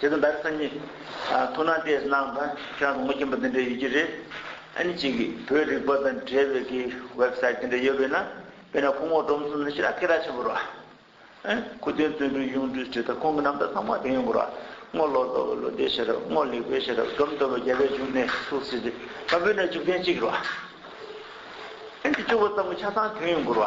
དེ་དང་ཟླ་ཚེས་གཉིས། ཐུགས་སྣང་བལྟས་གནང་དང་ཁྱོད་རང་ངོ་སྐྱོན་པ་འདི་འདྲ་ཡོད་ཀྱི་རེད། ཨ་ནི་གཅིག་བོད་རིག་པ་དང་འབྲེལ་བའི་གི Website དེ་འདྲ་ཡོད་པས་ན་དཔེར་ན་ཁོང་ངོ་སྒྲོམ་གསུམ་ནི་ཤི་ན་ཁེ་གྲགས་ཆེན་པོ་རོ། ཁུ་སྟོན་བརྩོན་འགྲུས་གཡུང་དྲུང་སྤྱི་དང་ཁོང་གི་རྣམ་ཐར་ཚང་མ་དེ་ཡོང་གི་རོ། སྔོ་ལོ་ལྟོ་བའི་ལོ་ཟླའི་ཤེས་རབ་སྔོ་ལེགས་པའི་ཤེས་རབ་སྒྲོམ་གཏོར་བའི་རྒྱལ་བའི་འབྱུང་གནས་ཐུགས་སྲས་ཏེ་བ་འབུལ་ན་འཇུག་ཐེངས་གཅིག་རོ། ཨ་ནི་བཅུ་བོ་ཙམ་གྱི་ཆ་ཚང་དེ་ཡོང་གི་རོ།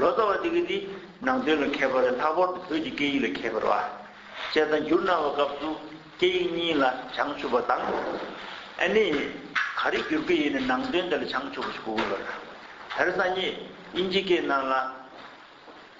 ལོ་ཙཱ་བ་དེ་གིས་ནི་ནང་དོན་ལ་མཁས་པ་ལས་ལྷག་པར་དུ་བོད་ཀྱི་སྐད་ཡིག་ལ་མཁས་པར་བ་ཅས་དང་བསྒྱུར་གནང་བའི་སྐབས་སུ་སྐད་ཡིག་གཉིས་ལ་བྱང་ཆུབ་པ་དང། ཨ་ནི། ག་རེ་བསྒྱུར་གི་ཡིན་ནི་ནང་དོན་དེ་ལ་བྱང་ཆུབ་པ་ཞིག་གོ་དགོས་པ་དང། དེར་སང་ཉིན་དབྱིན་ཇི་སྐད་གནང་ལ།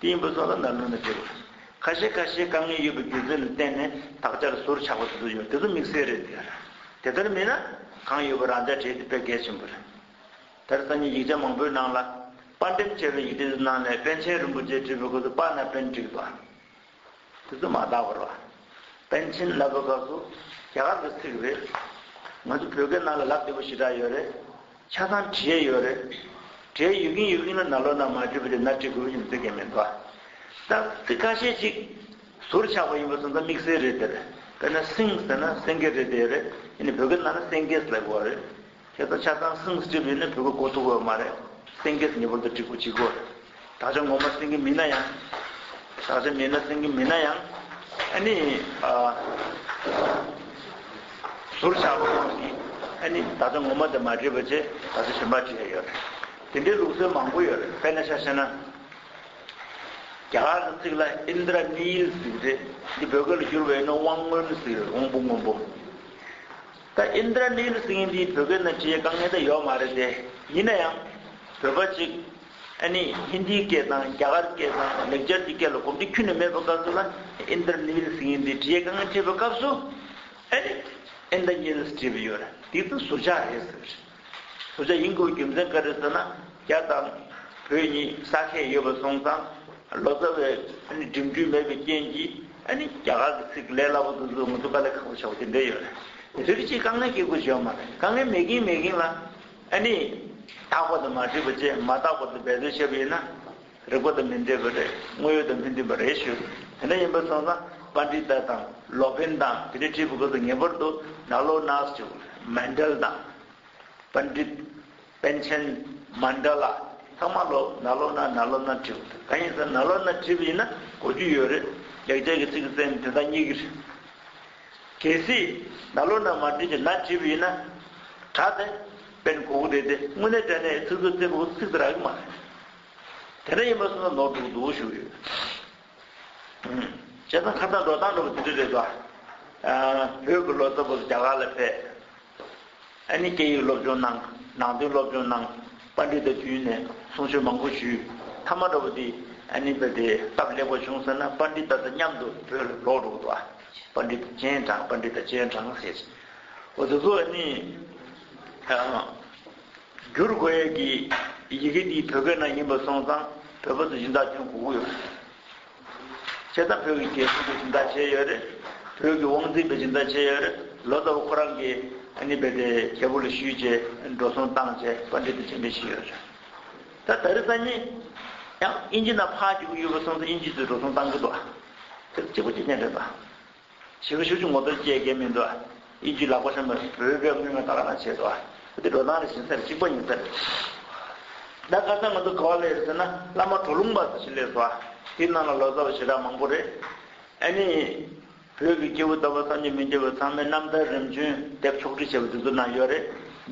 དེའི་འབུ་ཚོགས་ལ་འདམ་རུལ་ནི་སྤྲེལ་བ། ཁ་ཤས་ཁ་ཤས་དཀའ་ངལ་ཡོད་པའི་སྒྱུ་རྩལ་ལ་བརྟེན་ནས་དག་ཆར་ཟུར་ཆག་པ་དེ་ཚོ་ཡོད་དེ་ཚོ་དམིགས་བསལ་རེད། དེ་ལྟར་མིན་ན་གང་ཡོད་པ་རང་འཇགས་བྲིས་ཏེ་དཔེ་གལ་ཆེན་པོ་རེད། དེར་བརྟེན་ནས་ཡིག་ཆ་མང་པོའི་ནང་ལ་དཔར་འགྲེམས་བྱས་པའི་ཡིག་འབྲི་དེ་ཚོའི་ནང་ནས་པཎ་ཆེན་རིན་པོ་ཆེས་བྲིས་པའི་སྐོར་དུ་དཔར་ན་དཔེར་འགྲིག་པ། དེ་ཚོ་མ་བརྟག་པར་བ། པཎ་ཆེན་ལབ་པ་ག་ཟུ། རྒྱ་གར་གི་ཚིག་རེད། ང་ཚོ་བོད་སྐད་ནང་ལ་ལབ་དེ་པོ་ཞེ་དྲག་ཡོད་རེད། ཆ་ཚང་བྲིས་ཡོད་རེད། བྲིས་ཡོད་ཀྱིན་ཡོད་ཀྱིན་ལ་ན་ལོ་ན་མ་བྲིས་པ་དེ་ན་བྲིས་དགོས་པ་ཞིག་འཛེག་གི་མི་འདུག་བ། རྟགས་གཙིགས་ཁ་ཤས་ཅིག་ཟུར་ཆག་པ་ཡིན་པ་སོང་ཙང་དམིགས་བསལ་རེད་དེ་རེད། དཔེར་ན་སིངས་ཟེར་ན་སེང་གེ་རེད་དེ་རེད། ཡིན་ནའི་བོད་སྐད་ནང་ལ་སེང་གེས་ལབ་དགོས་བ་རེད། དེ་དང་ཆ་ཚང་སེང་གེ་སྤྱི་བོས་ནི་བུ་གུ་གོ་ཐུག་འོས་མ་རེད། སེང་གེས་ངེས་པར་དུ་འགྲིག་གོ་འཇིག་གོ་རེད། ད་ཆ་ངོ་མ་སེང་གེ་མིན་ན་ཡང། ད་ཆ་མིན་ན་སེང་གེ་མིན་ན་ཡང། ཨ་ནི། ཟུར་ཆག་པོ་ཡོང་སྲིད། ཨ་ནི། ད་ཆ་ངོ་མ་དེ་མ་བྲིས་པ་ཆེ། ད་ཆ་ཞིམ་པ་བྲིས་ཡ་ཡོད་རེད། དེ་འདྲའི་ལུགས་སྲོལ་མང་པོ་ཡོད་རེད། དཔེར་ན་ཤ་བཤད་ན། རྒྱ་གར་དུ་ཚིག་ལ Indra Neel ཟེར་རེད། འདི་བོད་སྐད་ལ་བསྒྱུར་བའི་ནི་དབང་སྔོན་ཟེར་རེད་དབང་པོ་སྔོན་པོ། ད Indranil Singh འདིའི་བོད་སྐད་ནང་ཇི་དཀའ་ངལ་དེ་ཡོད་མ་རེད་དེ། ཡིན་ན་ཡང། བོད་པ་ཅིག། ཨ་ནི Hindi སྐད་དང་རྒྱ་གར་སྐད་དང་ལེགས་སྦྱར་གྱི་སྐད་ལ་གོམས་འདྲིས་ཁྱུད་ནས་མེད་པའི་སྐབས་སུ་ན Indranil Singh འདིས་ཇི་དཀའ་ངལ་འཕྲད་པའི་སྐབས་སུ། ཨ་ནི Indaniels བྲིས་པ་ཡོད་རེད། དེ་ཚོ་ཟུར་ཆག་རེད་ཟེར་བཞིན། ཐུབ་བྱ་ཡིན་ཁུལ་རྒྱུ་མཚན་བཀའ་ཁྲི་བསོད་ནམས་རྒྱ་དང་བོད་གཉིས་ས་ཁད་ཡོད་པ་གསུངས་ཙང་ལོ་ཙཱ་བས་འགྲིམ་འགྲུལ་མེད་པའི་རྐྱེན་གྱིས་རྒྱ་གར་གྱི་ཚིག་ལས་སླ་པོ་འདུག་ཚུལ་ང་ཚོ་དཀའ་ལས་ཁག་པོ་བྱ་བ་དེ་འདྲས་ཡོད་རེད། རིགས་གཅིག་དཀའ་ངལ་སྐྱེ་དགོས་བྱས་པ་མ་རེད་དཀའ་ངལ་མེད་གིན་མེད་གིན་ལ། དག་པ་དང་མ་བྲིས་པ་བཅས་མ་དག་པ་དུ་འབད་བརྩོན་བྱས་པ་ཡིན་ན། རིགས་པ་དང་མི་འབྲེལ་བ་རེད་དངོས་ཡོད་དང་མི་མཐུན་པ་རེད་ཞུ་དེ་འདྲ་ཡིན་པ་སོང་ན་བཀའ་འདྲི་ལྟ་དང་ལོག་འཕེན་དང་དེ་འདྲའི་བྲིས་པ་ཁོ་ཚོ་ངེས་པར་དུ་ནག་ལོག་ནག་སྐྱུག་མན་འདྲལ་དང། པན་འདྲི། པན་ཆེན། མ་འདྲ་ལ་ཚང་མ་ལོག་ནག་ལོག་ནག་ནག་ལོག་ནག་བྲིས་པ་དེ་གང་ཡིན་ཟེར་ནག་ལོག་ནག་བྲིས་པ་ཡིན་ན་གོ་རྒྱུ་ཡོད་རེད་ལེགས་སྦྱར་གྱི་ཚིག་གསེམ་དེ་དག་གཉིས་ཀྱི་རེད། གལ་སྲིད་ནག་ལོག་ནག་མ་བྲིས་ཀྱི་ནག་བྲིས་པ་ཡིན་ན། དྲ་དེ། པན་གོ་བོ་དེ་དེ་དངོས་གནས་དྲ་ནས་ཚིག་ཚོད་རྩེ་བོ་ཚིག་ཚར་གི་མ་རེད། དེ་འདྲ་ཡིན་པར་སོང་ན་ནོར་འདུག་འདུག་ཞུ་གི་ཡོད། བྱས་ཙང་ཁ་བཏགས་འགྲོ་སྟངས་འགྲོ་པ་དེ་འདྲ་རེད་དོ། བོད་ཀྱི་ལོ་ཙཱ་བོ་རྒྱ་གར་ལ་ཕེབས། ཨ་ནི་སྐད་ཡིག་སློབ་སྦྱོང་གནང། ནང་དོན་སློབ་སྦྱོང་གནང། པར་འབྲི་དང་བསྟུན་ནས་གསུང་ཆོས་མང་པོ་ཞུས། མཐའ་མ་འགྲོ་པ་དེ་ཨ་ནི་བོད་དེ་སྟབས་ལེགས་པོ་བྱུང་ཟེར་ན་པར་འབྲི་དང་མཉམ་དུ་བོད་ལ་ལོག་འགྲོ་གི་འདུག་ཨ། པར་འབྲི་དང་སྤྱན་དྲངས་པར་འབྲི་དང་སྤྱན་དྲངས་ཟེར། འོ་དེ་ཚོ་ཨ་ནི། བསྒྱུར་དགོས་ཡས་ཀྱི་ཡི་གེ་འདི་བོད་སྐད་ནང་ཡིན་པ་སོང་ཙང་བོད་པ་ཚོ་སྦྱིན་བདག་སྐྱོན་གོ་གི་ཡོད་རེད། བྱས་ཙང་བོད་ཀྱི་རྒྱལ་སྲུང་པའི་སྦྱིན་བདག་བྱས་ཡོད་རེད། བོད་ཀྱི་དབང་འཛིན་པའི་སྦྱིན་བདག་བྱས་ཡོད་རེད། ལོ་ཙཱ་བ་ཁོ་རང་གིས་ཨ་ནི་བས་དེ་རྒྱལ་པོ་ལ་ཞུས་རྗེས་འགྲོ་སོང་བཏང་རྗེས་བཀའ་འདྲི་དང་མཇལ་འཕྲད་བྱས་ཡོད་རེད། ད་ད་རི་ཙཱ་ཉིད་ཡང་དབྱིན་ཇི་ནང་ཕག་སྐྱེ་གི་ཡོད་པ་སོང་ཙང་དབྱིན་ཇི་ཚོས་འགྲོ་སོང་བཏང་གི་འདུག་ཨ། དེ་ལ་སྐྱེ་སྒོ་སྐྱེ་མཁན་རེད་ད། བྱིས་པ་ཤུགས་ཆུང་ངོ་ཚ་བཅས་རྒས་མི་འདུག། དབྱིན་ཇུའི་ལག་པ་ཤམ་པའི་བོད་པའི་དངུལ་སྔོན་ད་ག་ན་བྱས་འདུག། འདི་འགྲོ་སྟངས་རེད་བཞིན་ཚར་གཅིག་པ་ཉིན་ཚར་རེད། ད་ག་ས་ང་ཚོ་ག་བ་ལས་རེད་ཟེར་ན་བླ་མ་གྲོ་ལུང་པ་ཟེར་བཞིན་ལས་བཟོ་བ་དེའི་ནང་ལ་ལོ་ཙཱ་བ་ཞེ་དྲག་མང་པོ་རེད། ཨ་ནི། བོད་ཀྱི་སྐྱེ་བོ་ད་བར་བསམ་གྱི་མི་འདྲ་བའི་ཚང་མས་རྣམ་ཐར་རིམ་བྱོན་དེབ་ཕྱོགས་བསྒྲིགས་བྱས་པ་འདི་ཚོ་ན་ཡོད་རེད།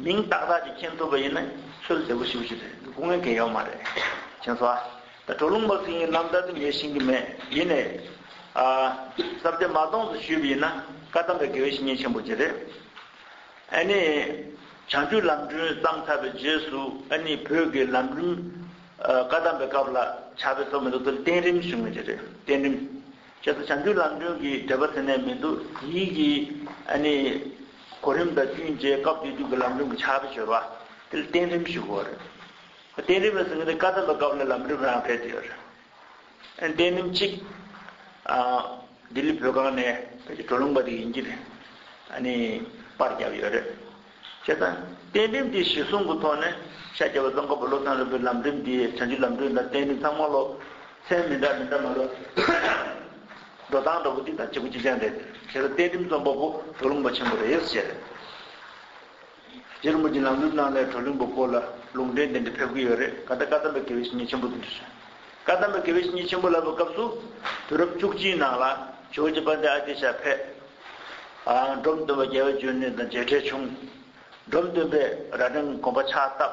མིང་ཏག་ཏག་ཅིག་མཁྱེན་ཐུབ་པ་ཡིན་ན་ཚོད་བདེ་པོ་ཞིག་པ་ཞིག་རེད་འདུག་སྐུ་ངལ་འགན་ཡོད་མ་རེད། མཁྱེན་བཟོ་བ། ད་གྲོ་ལུང་པ་ཟིན་ཡིན་ནམ་ད་དུ་ཉལ་ཤིང་གི་མེད་ཡིན་ནའི། སྲབ་སྡེ་མ་སྟོངས་སུ་ཞུས་པ་ཡིན་ན་བཀའ་གདམས་པའི་དགེ་བའི་བཤེས་གཉེན་ཆེན་པོ་དེ་རེད། ཨ་ནི། བྱང་ཆུབ་ལམ་སྒྲོན་བརྩམས་ཚར་བའི་རྗེས་སུ་ཨ་ནི་བོད་ཀྱི་ལམ་རིམ། བཀའ་གདམས་པའི་སྐབས་ལ་བྱ་བའི་ཚོགས་མེད་འདུག་དེ་ལ་བསྟན་རིམ་ཞུ་ངེས་དེ་རེད་བསྟན་རིམ། ཁྱེད་ཚོ་བྱང་ཆུབ་ལམ་སྒྲོན་གྱི་འགྲེལ་པ་ཟེར་ནས་མི་འདུག་དེའི་གི་ཨ་ནི། གོ་རིམ་དང་བསྟུན་བྱའི་སྐབས་དེ་དུས་ཀྱི་ལམ་རིམ་གྱི་བྱ་བའི་སྦྱོར་བ། དེ་ལ་བསྟན་རིམ་ཞུ་དགོས་པ་རེད། བརྟེན་རིམ་ལ་གཟིགས་ན་ཀ་ད་ལོ་སྐབས་ལ་ལམ་རིམ་རང་འཕེལ་དུ་ཡོད། བརྟེན་རིམ་གཅིག་ལྡི་ལི་བོད་ཁང་ནས་བོད་ཀྱི་གྲོ་ལུང་པ་དེ་ཡིན་གྱི་པར་བརྒྱབ་ཡོད། བྱས་ཙང་བརྟེན་རིམ་དེའི་གཞི་བཟུང་གི་ཐོག་ནས་ཤ་རྒྱགས་པ་ཙམ་ཀ་བོ་བློ་བཟང་ལྷུན་པོའི་ལམ་རིམ་དེ་བྱང་ཆུབ་ལམ་སྒྲོན་དང་བརྟེན་རིམ་ཚང་མ་ལོ་ཚན་མི་འདྲ་མི་འདྲ་མ་ལོ་འགྲོ་སྟངས་འདྲ་བོ་དེ་དང་གཅིག་པོ་གཅིག་ཅན་རེད། བྱས་ཙང་བརྟེན་རིམ་རྩོམ་པ་པོ་གྲོ་ལུང་པ་ཆེན་པོ་རེད། སྒྱེར་འབུལ་གྱི་ལམ་ལུགས་ནང་ལས་གྲོལ་ལུང་པའི་སྐོར་ལ་ལུང་འདྲེན་དེ་འདྲ་ཕེབས་ཀྱི་ཡོད་རེད་ག་ད་བཀའ་གདམས་པའི་དགེ་བའི་བཤེས་གཉེན་ཆེན་པོ་དེ་འདྲ་བྱོན། བཀའ་གདམས་པའི་དགེ་བའི་བཤེས་གཉེན་ཆེན་པོ་ལབ་པའི་སྐབས་སུ། དུས་རབས་བཅུ་གཅིག་ནང་ལ་ཇོ་བོ་རྗེ་པནྡེ་ཨ་ཏི་ཤ་ཕེབས། འབྲོམ་སྟོན་པ་རྒྱལ་བས་བརྗོད་ནས་དང་མཇལ་འཕྲད་བྱུང། འབྲོམ་སྟོན་པས་རྭ་སྒྲེང་དགོན་པ་ཕྱག་བཏབ།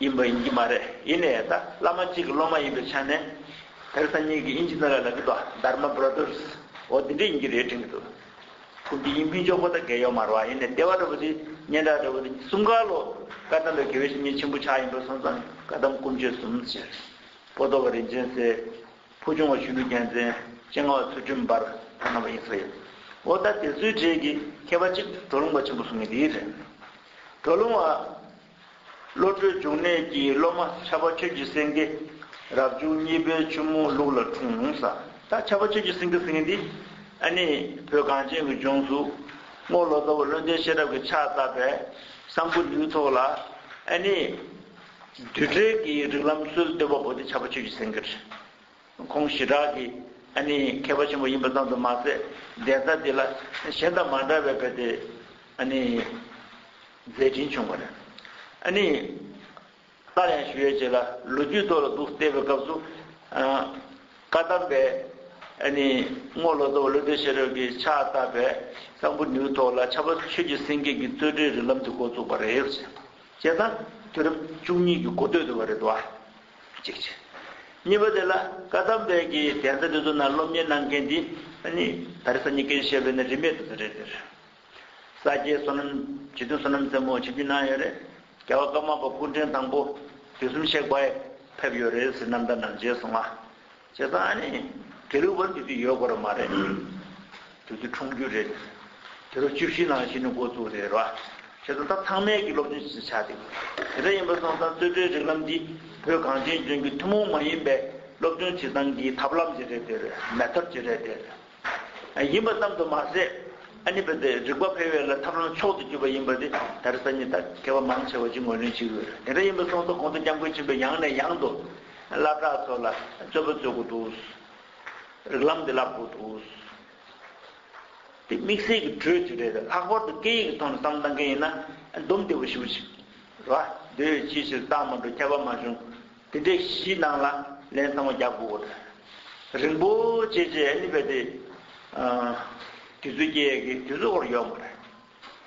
ཡིན་པ་ཡིན་གྱི་མ་རེད་ཡིན་ནའི་ད་བླ་མ་གཅིག་གི་སློབ་མ་ཡིན་པའི་ཆ་ནས། དེར་ཐ་སྙད་ཀྱི་དབྱིན་ཇི་ནང་ལ་ལབ་གི་འདུག Dharma Brothers འོ་དེ་འདྲས་ཡིན་གྱི་རེད་དྲན་གྱི་འདུག་ཕུགས་ཀྱི་དབྱིན་ཕུན་ཆོག་པོ་ད་གེ་ཡོག་མར་བ་ཡིན་ནའི་ལྟེ་བ་འདྲ་པོ་དེ་སྙན་གྲགས་འདྲ་པོ་དེ་གསུམ་ག་ལོ་ཀ་དམ་པའི་དགེ་བའི་བཤེས་གཉེན་ཆེན་པོ་ཕྱག་ཡིན་པ་སོང་ཙང་བཀའ་གདམས་དཀོན་མཆོད་གསུམ་བྱས། པོ་ཏོ་བ་རིན་ཆེན་སྲས། ཕུ་ཆུང་བ་ཆུ་ལུ་རྒྱལ་མཚན། སྤྱན་སྔ་བ་ཚུལ་ཁྲིམས་འབར་བ་རྣམ་པ་ཡིན་ས་ཡོད། འོ་ད་དེ་ཚོའི་གྲས་ཀྱི་མཁས་པ་གཅིག་གྲོ་ལུང་པ་ཆེན་པོ་གསུང་མཁན་དེ་རེད། གྲོ་ལུང་བ། བློ་གྲོས་འབྱུང་གནས་ཀྱི་སློབ་མ་ཁྱབ་པ་ཆོས་ཀྱི་སེང་གེ། རབ་བྱུང་གཉིས་པའི་ཆུ་མོ་ལུག་ལ་འཁྲུངས་ས། ད་ཁྱབ་པ་ཆོས་ཀྱི་སེང་གེ་ཟེར་མཁན་འདི། ཨ་ནི་བོད་གངས་ཅན་གྱི་ལྗོངས་སུ། རྔོག་ལོ་ཙཱ་བ་བློན་ལྡན་ཤེས་རབ་ཀྱི་ཕྱག་བཏབ་པས། གསང་ཕུ་ནུའི་ཚོགས་ལ། ཨ་ནི། བདུད་བྲལ་གྱི་རིགས་ལམ་སྲོལ་བཏོད་པ་པོ་འདི་ཁྱབ་པ་ཆོས་ཀྱི་སེང་གེར། ཁོང་ཞི་དྲག་གི་ཨ་ནི་མཁས་པ་ཆེན་པོ་ཡིན་པ་ཙམ་དུ་མ་ཟད་བདེན་རྩ་འདི་ལ་གཞན་དང་མ་འདྲ་བའི་བོད་དེ་ཨ་ནི་མཛད་འཕྲིན་བྱུང་བ་རེད། ཨ་ནི། སླར་ཡང་ཞུ་ཡས་བྱེད་ལ་ལོ་རྒྱུས་ཐོག་ལ་འདུག་བལྟས་པའི་སྐབས་སུ། བཀའ་གདམས་པའི་ཨ་ནི་རྔོག་ལོ་ཙཱ་བ་ཀླུ་སྟོད་ཤེས་རབ་ཀྱི་ཕྱག་བཏབ་པའི་གསང་ཕུ་ནུའི་ཐོག་ལ་ཆབ་པ་ཆོས་ཀྱི་སེང་གེ་གི་རྩོད་གྲྭའི་རིགས་ལམ་དེ་འགོ་བཙུགས་པ་རེད། ཅེས་དང། དུས་རབས་བཅུ་གཉིས་ཀྱི་འགོ་སྟོད་དུ་བ་རེད་དོ། གཅིག་བྱས། གཉིས་པ་དེ་ལ་བཀའ་གདམས་དཔལ་གྱི་གདན་ས་འདི་ཚོ་ན་སློབ་གཉེར་གནང་མཁན་འདི་ནི་ད་རེས་ས་ཉིས་ཀའི་ཞེས་པའི་ནི་རིས་མེད་དུ་ཚུད་རེད་ཟེར། ས་སྐྱའི་བསོད་ནམས་བྱིས་སྡོད་བསོད་ནམས་རྩེ་མོ་བྱེད་རྒྱུ་གནང་ཡོད་རེད། རྒྱལ་བ་ཀརྨ་པ་སྐུ་ཕྲེང་དང་པོ་དུས་གསུམ་གཤེགས་པ་ཕེབས་ཡོད་རེད་ཟེར་རྣམ་ཐར་ནང་མཇལ་སོང་ང། བྱས་ཙང་ཨ་ནི་དེ་རིང་བར་དུ་དེ་ཡོད་དགོས་ར་མ་རེད། དེ་དུས་འཁྲུངས་རྒྱུ་རེད། དེ་རུ་བཅུ་བཞི་ནང་བཞི་ནི་འགོ་བཙུགས་རེད་ར། བྱས་ཙང་ད་ཚང་མལ་གྱི་སློབ་སྦྱོང་བྱ་འདི། དེ་འདྲ་ཡིན་པ་སོང་ཙང་རྩོད་གྲོལ་རིག་ལམ་འདི་བོད་གངས་ཅན་ལྗོངས་ཀྱི་ཐུན་མོང་མ་ཡིན་པའི་སློབ་སྦྱོང་བྱེད་སྟངས་ཀྱི་ཐབས་ལམ་གྱི་རེད་དེ་རེད་མེད་ཐབས་ཀྱི་རེད་དེ་རེད། ཡིན་པ་ཙམ་དུ་མ་ཟད། རིག་པ་འཕེལ་བའི་ལ་ཐབས་ལམ་མཆོག་ཏུ་གྱུར་པ་ཡིན་པ་དེ་ལྟར་སང་ཉིན་དང་མཁས་པ་མང་ཆེ་བ་ཅི་ངོས་ལེན་བྱེད་དགོས་རེད་དེ་འདྲ་ཡིན་པ་སོང་ཐོག་གོང་དུ་སྐྱབས་མགོན་ཆེན་པོས་ཡང་ནས་ཡང་དུ། བླ་གྲགས་ཚོ་ལ་རྩོད་པ་རྩོད་དགོས་འདུག། རིག་ལམ་འདི་བསླབ་དགོས་འདུག། དེ་དམིགས་བསལ་གྱི་གྲོས་ཅིག་རེད་ལྷག་པར་དུ་སྐད་ཡིག་གི་ཐོག་ནས་བསམ་བློ་གཏང་མཁན་ཡིན་ན། འདུམ་བདེ་བོ་ཞུ་ཅིག། རེད་བ། དེ་བས་ཅིའི་ཕྱིར་བཏང་མ་འགྲོ་ཁྱད་པར་མ་བྱུང། དེ་འདྲའི་གཞི་སྣང་ལ་ལན་གསང་བ་རྒྱག་དགོས་པ་རེད། རིན་པོ་ཆེ་རྗེ་ཨེ་ལི་བྷེ་ཏི། དུས་ཚོད་སྐྱེལ་ཡས་ཀྱི་དུས་ཚོད་བོར་ཡོང་བ་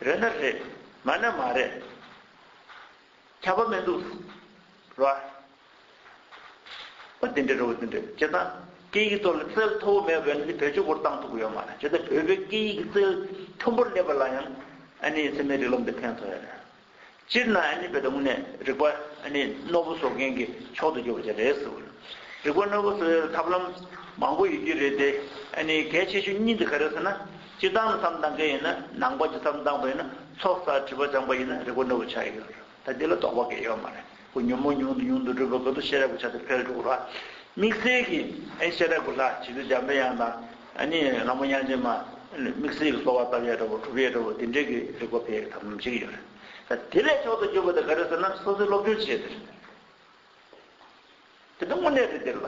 རེད། རེད་ན་རེད། མ་ན་མ་རེད། ཁྱབ་པ་མི་འདུག་རོ་ཨ། འོ་དེ་འདྲའི་རེད་འོ་དེ་འདྲའི་རེད་བྱས་ཙང་སྐད་ཡིག་ཐོག་ལ་རྩལ་མཐོ་བོ་མེད་པའི་ནི་བེད་སྤྱོད་བོར་བཏང་ཐུབ་ཀྱི་ཡོད་མ་རེད་བྱས་ཙང་བོད་པའི་སྐད་ཡིག་གི་རྩལ་མཐོན་པོར་སླེབས་པ་ལ་ཡང་ཨ་ནེའི་ཚད་མའི་རིགས་ལམ་དེ་ཕན་ཐོགས་ཡས་རེད། སྤྱིར་ན་ཨ་ནི་བེ་དང་དངོས་གནས་རིག་པ་ཨ་ནི་རྣོ་པོ་བཟོ་མཁན་གྱི་མཆོག་ཏུ་གྱུར་པ་དེ་རེད། རིག་པ་རྣོ་པོ་བཟོ་བའི་ཐབས་ལམ་མང་པོ་ཡོད་རྒྱུ་རེད་དེ། ཨ་ནི་གལ་ཆེ་ཤོས་གཉིས་འདི་ག་རེད་ཟེར་ན། སྤྱིར་བཏང་ལ་བསམ་གཏང་མཁན་ཡིན་ན་ནང་པ་སྤྱི་བསམ་གཏང་པ་ཡིན་ན་ཚོགས་བསགས་བྲིས་པ་སྦྱངས་པ་ཡིན་ན་རིག་པ་རྣོ་པོ་ཆགས་ཀྱི་ཡོད་རེད། ད་འདི་ལ་དོགས་པ་འགའ་ཡོད་མ་རེད། པོ་ཉོན་མོངས་ཉུང་དུ་ཉུང་དུ་སྒྲུབ་པའི་གོ་དོ་ཤེས་རབ་ཀྱི་ཆ་དེ་འཕེལ་འགྲོ་བ། དམིགས་བསལ་གྱི་ཨེ་ཤེས་རབ་ཀྱི་ལྷ་བྱི་དོར་འཇམ་དཔལ་དབྱངས་དང། ནི་ལྷ་མོ་དབྱངས་ཅན་མ། དམིགས་བསལ་གྱི་གསོ་བ་རྟ་བས་བྲབ་བོ་གྲུ་བས་བྲབ་བོ་དེ་འདྲའི་གི་རིགས་པ་བས་དམ་བཅས་ཀྱི་ཡོད་རེད། ད་དེ་ལས་མཆོག་ཏུ་གྱུར་པ་དེ་ག་རེད་ཟེར་ན་སོ་སོའི་སློབ་སྦྱོང་བྱས་དེ་རེད། དེ་ལྟ་དངོས་གནས་རེད་དེ་ལ།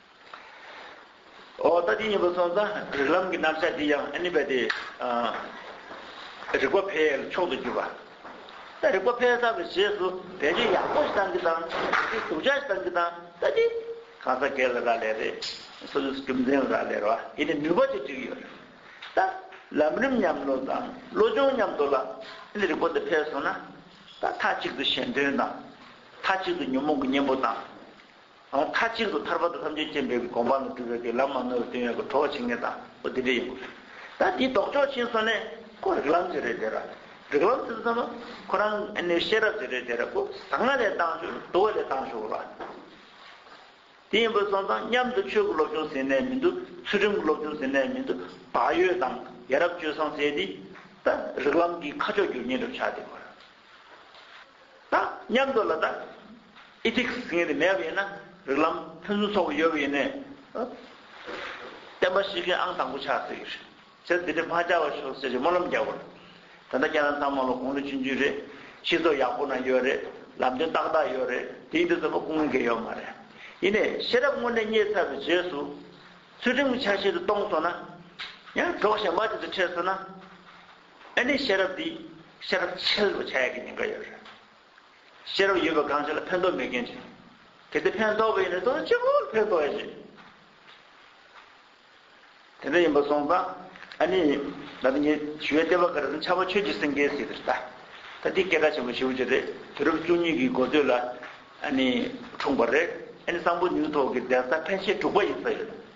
ཨོ་ད་དེ་གཉིས་པོ་སོང་ཙང་རིགས་ལམ་གྱི་རྣམ་གཞག་འདི་ཡང་ཨ་ནི་བས་ཏེ། རིག་པ་འཕེལ་མཆོག་ཏུ་གྱུར་པ། ད་རིག་པ་འཕེལ་ས་པའི་རྗེས་སུ་བད་ཀན་ཡག་པོ་ཞིག་བཏང་གི་དང། བད་ཀན་དུག་ཆ་ཞིག་བཏང་གི་དང་ད་དེ། གང་ཟག་སྒེར་ལ་རག་ལས་རེད། སོ་སོའི་རྒྱུ་མཚན་ལ་རག་ལས་རོ། ཡེ་ནས་ནུས་པ་ཅིག་བསྒྲིགས་ཡོད་རེད། ད། ལམ་རིམ་མཉམ་ནོར་དང་བློ་སྦྱོང་མཉམ་དུ་ལ། ཨ་ནི་རིག་པ་འདི་འཕེལ་སོང་ན། ད་མཐའ་གཅིག་ཏུ་གཞན་དོན་དང། མཐའ་གཅིག་ཏུ་ཉོན་མོངས་ཀྱི་གཉེན་པོ་དང། མཐའ་གཅིག་ཏུ་ཐར་པ་དང་ལྷ་མཆོད་སྤྱན་འབེབས་ཀྱི་དགོངས་པ་ལ་སྒྲུབ་པའི་དུས་ལམ་མ་ནོར་བའི་དོན་ཡོད་ཀྱི་གྲོགས་བྱེད་མཁན་དང་པོ་དེ་འདྲ་ཡིན་དགོས། ད་དེའི་ལྡོག་ཕྱོགས་ཕྱིན་སོང་ནས་ཁོ་རིག་ལམ་ཟེར་བའི་དེ་ར། རིག་ལམ་ཟེར་ཙམ་མ། ཁོ་རང་ཨེ་ནུའི་ཤེས་རབ་ཟེར་བའི་དེ་ར་ཁོ་ཟང་ང་ལས་ལྡང་ཞོར་དུ་བ་ལས་ལྡང་ཞོར་ལ། དེ་ཡིན་པར་སོང་ཙང་མཉམ་དུ་ཆོས་ཀྱི་སློབ་སྦྱོང་ཟེར་ནས་མི་འདུག་ཚུལ་ཁྲིམས་ཀྱི་སློབ་སྦྱོང་ཟེར་ནས་མི་འདུག་བག་ཡོད་དང་ཡ་རབས་སྤྱོད་བཟང་ཟེར་དེ། ད་རིག་ལམ་འདིའི་ཁ་ཕྱོགས་བསྒྱུར་ཉེས་གྲུབ་ཆགས་དེ་གོ་ར། དང་མཉམ་དུ་ལ་དྭགས Ethics ངེས་ཏེ་མེད་པ་ཡིན་ན་རིགས་ལམ་ཕུན་སུམ་ཚོགས་པ་ཡོད་པ་ཡིན་ནས་བསྟན་པ་ཞིག་གི་ཨང་དང་པོ་ཆགས་ཟེར་གྱི་རེད། ཚེ་འདི་འདྲའི་འཕང་ཆགས་པ་ཞོག་ཟེར་གྱི་སྨོན་ལམ་རྒྱག་པ་རེད། ད་ལྟ་ཁྱེད་རང་ཚང་མ་ལ་དགུང་ལོ་བཅུ་བཅུ་རེད། ཤི་ཚོ་ཡག་པོ་ན་ཡོད་རེད། ལམ་སྟོན་ཏག་ཏག་ཡོད་རེད། དེའི་འདི་ཚོ་ལ་སྐུ་ངལ་འགེལ་ཡོད་མ་རེད། ཡིན་ནས་ཤེས་རབ་དངོས་གནས་རྙེད་ཚར་བའི་རྗེས་སུ། ཚུལ་ཁྲིམས་ཀྱི་ཆ་ཤས་དེ་སྟོངས་སོང་ན། ཡང་གྲོགས་གཞན་པ་དེ་ཚོ་འཕྲད་སོང་ན། ཨེ་ནས་ཤེས་རབ་འདི་ཤེས་རབ་འཆལ་བའི་ཆ་ཡག་གི་ཉེན་ཁ་ཡོད་རེད། ཤེས་རབ་ཡོད་པའི་གང་ཞིག་ལ་ཕན་ཐོགས་མེད་མཁན་ཞིག། གལ་ཏེ་ཕན་ཐོགས་པ་ཡིན་ན་དོན་ཆེན་པོ་ལ་ཕན་ཐོགས་ཡོད་ཅིག། དེ་འདྲ་ཡིན་པ་སོང་ཙང་ཨ་ནི་ད་ལྟ་ངས་ཞུ་བའི་ལྟེ་བ་འགའ་རེ་ཙམ་ཆགས་པ་ཆོས་ཀྱི་སེང་གེའི་གཟིགས་རེད་ད། ད་འདི་སྐད་ག་ཆེན་པོ་ཞུ་རྒྱུ་རེད་དུས་རབས་བཅུ་གཉིས་ཀྱི་འགོ་སྟོད་ལ་ཨ་ནི་འཁྲུངས་པ་རེད་ཨེ་ནས་སང་ཕོ་ཉུལ་ཐོག་གི་གདན་ས་ཕན་ཆད་དྲུག་པ་ཡིན་ས་ཡོད།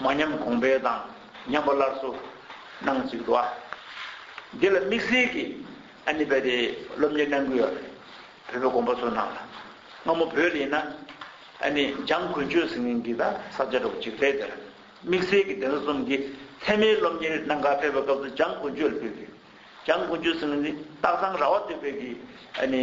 མ་ཉམས་གོང་འཕེལ་དང་ཉམས་པ་སླར་གསོ་གནང་གཅིག་འདུག་ཨ། འདི་ལ་དམིགས་བསལ་གྱིས་ཨ་ནི་བས་ཏེ་སློབ་གཉེར་གནང་གི་ཡོད་རེད། བོད་པའི་དགོན་པ་ཚོ་ནང་ལ་སྔ་མོ་བོད་ལ་ཡིན་ན་ཨ་ནི་འཇང་དགུན་ཆོས་ཟེར་མཁན་གྱི་ད་ས་བཅའ་སྒྲོག་གཅིག་རེད་དེར་དམིགས་བསལ་གྱིས་དེ་འདྲ་གསུམ་གྱི་ཐད་མའི་སློབ་གཉེར་གནང་ག་ཕེབས་པའི་སྐབས་སུ་འཇང་དགུན་ཆོས་ལ་ཕེབས་ཀྱི་ཡོད། འཇང་དགུན་ཆོས་ཟེར་མཁན་ནི་སྟག་ཚང་ར་བ་སྟོད་བོད་ཀྱི་ཨ་ནི།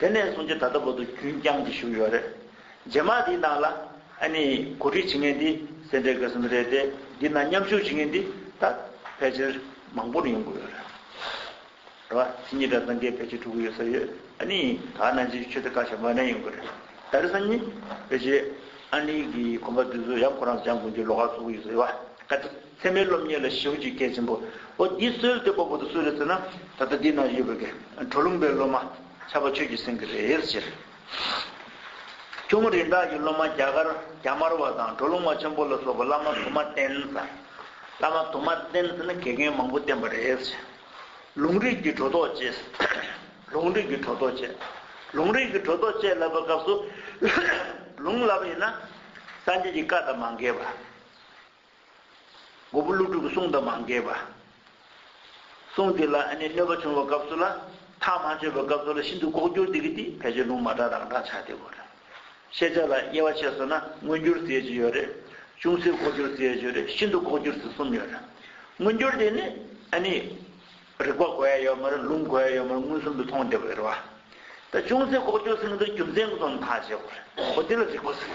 དེ་ནས་བཟུང་སྤྱི་ད་ལྟ་བར་དུ་རྒྱུན་བསྐྱངས་ཀྱིས་བཞུགས་ཡོད་རེད། རྗེས་མ་དེའི་ནང་ལ། ཨ་ནི་གོ་སྒྲིག་བྱེད་མཁན་འདི་སེ་འབྲས་དགེ་གསུམ་རེད་དེ། འདི་ནང་མཉམ་ཞུགས་བྱེད་མཁན་འདི་ད་ཕལ་ཆེར་མང་པོ་ནས་ཡོང་གི་ཡོད་རེད། རེད་བ། ཕྱི་ཉིན་གྲྭ་ཚང་འགའི་ཕལ་ཆེར་ཕྲུ་གུ་ཡོད་ས་ཡོད། ཨ་ནི་ད་ནང་ཆེན་ཆོས་སྡེ་བཀའ་ཤག་མོ་ནས་ཡོང་གི་རེད། ད་རེས་གཉིས་ཕལ་ཆེར་ཨ་ནི་གིས་གོམ་པ་དུས་ཚོད་ཡང་ཁོ་རང་ཚོ་སྦྱང་དགོས་རྒྱུའི་ལོ་ཁ་ཚུགས་ཀྱི་ཡོད་ས་ཡོད་བ། བཀའ་ཁྲི། ཚད་མའི་སློབ་གཉེར་ལ་ཞེ་བོ་གཅིག་གལ་ཆེན་པོ། འོ་འདི་སོལ་ཏེ་སྤོ་པོ་དང་སུ་རེད་ཟེར་ན། ད་ལྟ་འདི་ན་ཡོད་པའི་དགེ་བྲོ་ལུང་པའི་སློབ་མ་ཆར་པ་ཆོས་ཀྱི་སེང་གེ་རེད་ཟེར། ཁྱུང་མོ་རིན་བྲག་གི་སློབ་མ་རྒྱ་དཀར་རྒྱ་དམར་བ་དང་བྲོ་ལུང་བ་ཆེན་པོ་ལ་སོགས་པ་བླ་མ་དུ་མ་བསྟེན་ཟེར། བླ་མ་དུ་མ་བསྟེན་ཟེར་ན་དགེ་རྒན་མང་པོ་བསྟེན་པ་རེད་ཟེར། ལུང་རིགས་ཀྱི་བྲོ་ཐོག་བཅས། ལུང་རིགས་ཀྱི་བྲོ་ཐོག་བཅས། ལུང་རིགས་ཀྱི་བྲོ་ཐོག་བཅས་ལབ་པའི་སྐབས་སུ། ལུང་ལབ་ཡིན་ན། སངས་རྒྱས་ཀྱི་བཀའ་དང་མ་འགལ་བ། མགོ་བོ་ཀླུ་སྒྲུབ་ཀྱི་གསུང་དང་མ་འགལ་བ། གསུང་དེ་ལ་ཨ་ནེ་གནོད་པ་བྱུང་བའི་སྐབས་སུ་ལ་ཐག་མ་ཆོད་པའི་སྐབས་སུ་ལ་ཤིན་ཏུ་ལྐོག་གྱུར་འདི་གི་དེ་ཕལ་ཆེར་ལུང་མ་དྲག་རང་དྲག་ཆགས་སྡེ་གོ་རེད། ཤེས་བྱ་ལ་དབྱེ་བ་ཕྱེས་སོང་ན་མངོན་གྱུར་ཟེར་གྱི་ཡོད་རེད། ཅུང་ཟད་ལྐོག་གྱུར་ཟེར་གྱི་ཡོད་རེད་ཤིན་ཏུ་ལྐོག་གྱུར་ཟེར་གསུམ་ཡོད་རེད། མངོན་གྱུར་དེ་ནི་ཨ་ནེ། རིག་པ་གོ་ཡ་ཡོད་མ་རེད་ལུང་གོ་ཡ་ཡོད་མ་རེད་མངོན་སུམ་དུ་མཐོང་བདེ་བོ་ཡོད་རེད་བ། ད་ཅུང་ཟད་ལྐོག་གྱུར་ཟེར་གི་འདུག་རྒྱུ་མཚན་གྱི་ཐོག་ནས་ཐག་བཅད་གོ་རེད། འོ་དེ་ལ་རིག་པ་ཟེར།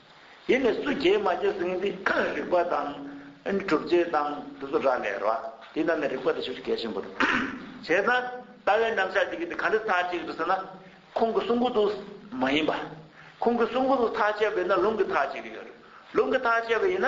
དེ་ནས་སུ་རྒྱལ་མ་རྒྱལ་ཟིན་ཏེ་རིགས་པ་དང། གྲུབ་རྗེས་དང་དེ་ཚོ་ར་ལས་ར། དེ་རྣམས་ནས་རིགས་པ་དེ་ཆོས་ཀྱི་རྒྱལ་ཆེན་པོ་དང། བྱས་ན། ལྟ་བའི་རྣམ་གཞག་གཅིག་གིས་དེ་ག་འདྲ་ཐག་གཅད་དུ་ཟེར་ན། ཁོང་གི་གསུང་གོ་ཏུ། མ་ཡིན་པ། ཁོང་གི་གསུང་གོ་ཏུ་ཐག་གཅད་པ་ཡིན་ན་ལུང་གིས་ཐག་གཅད་ཀྱི་ཡོད་རེད། ལུང་གིས་ཐག་གཅད་པ་ཡིན་ན།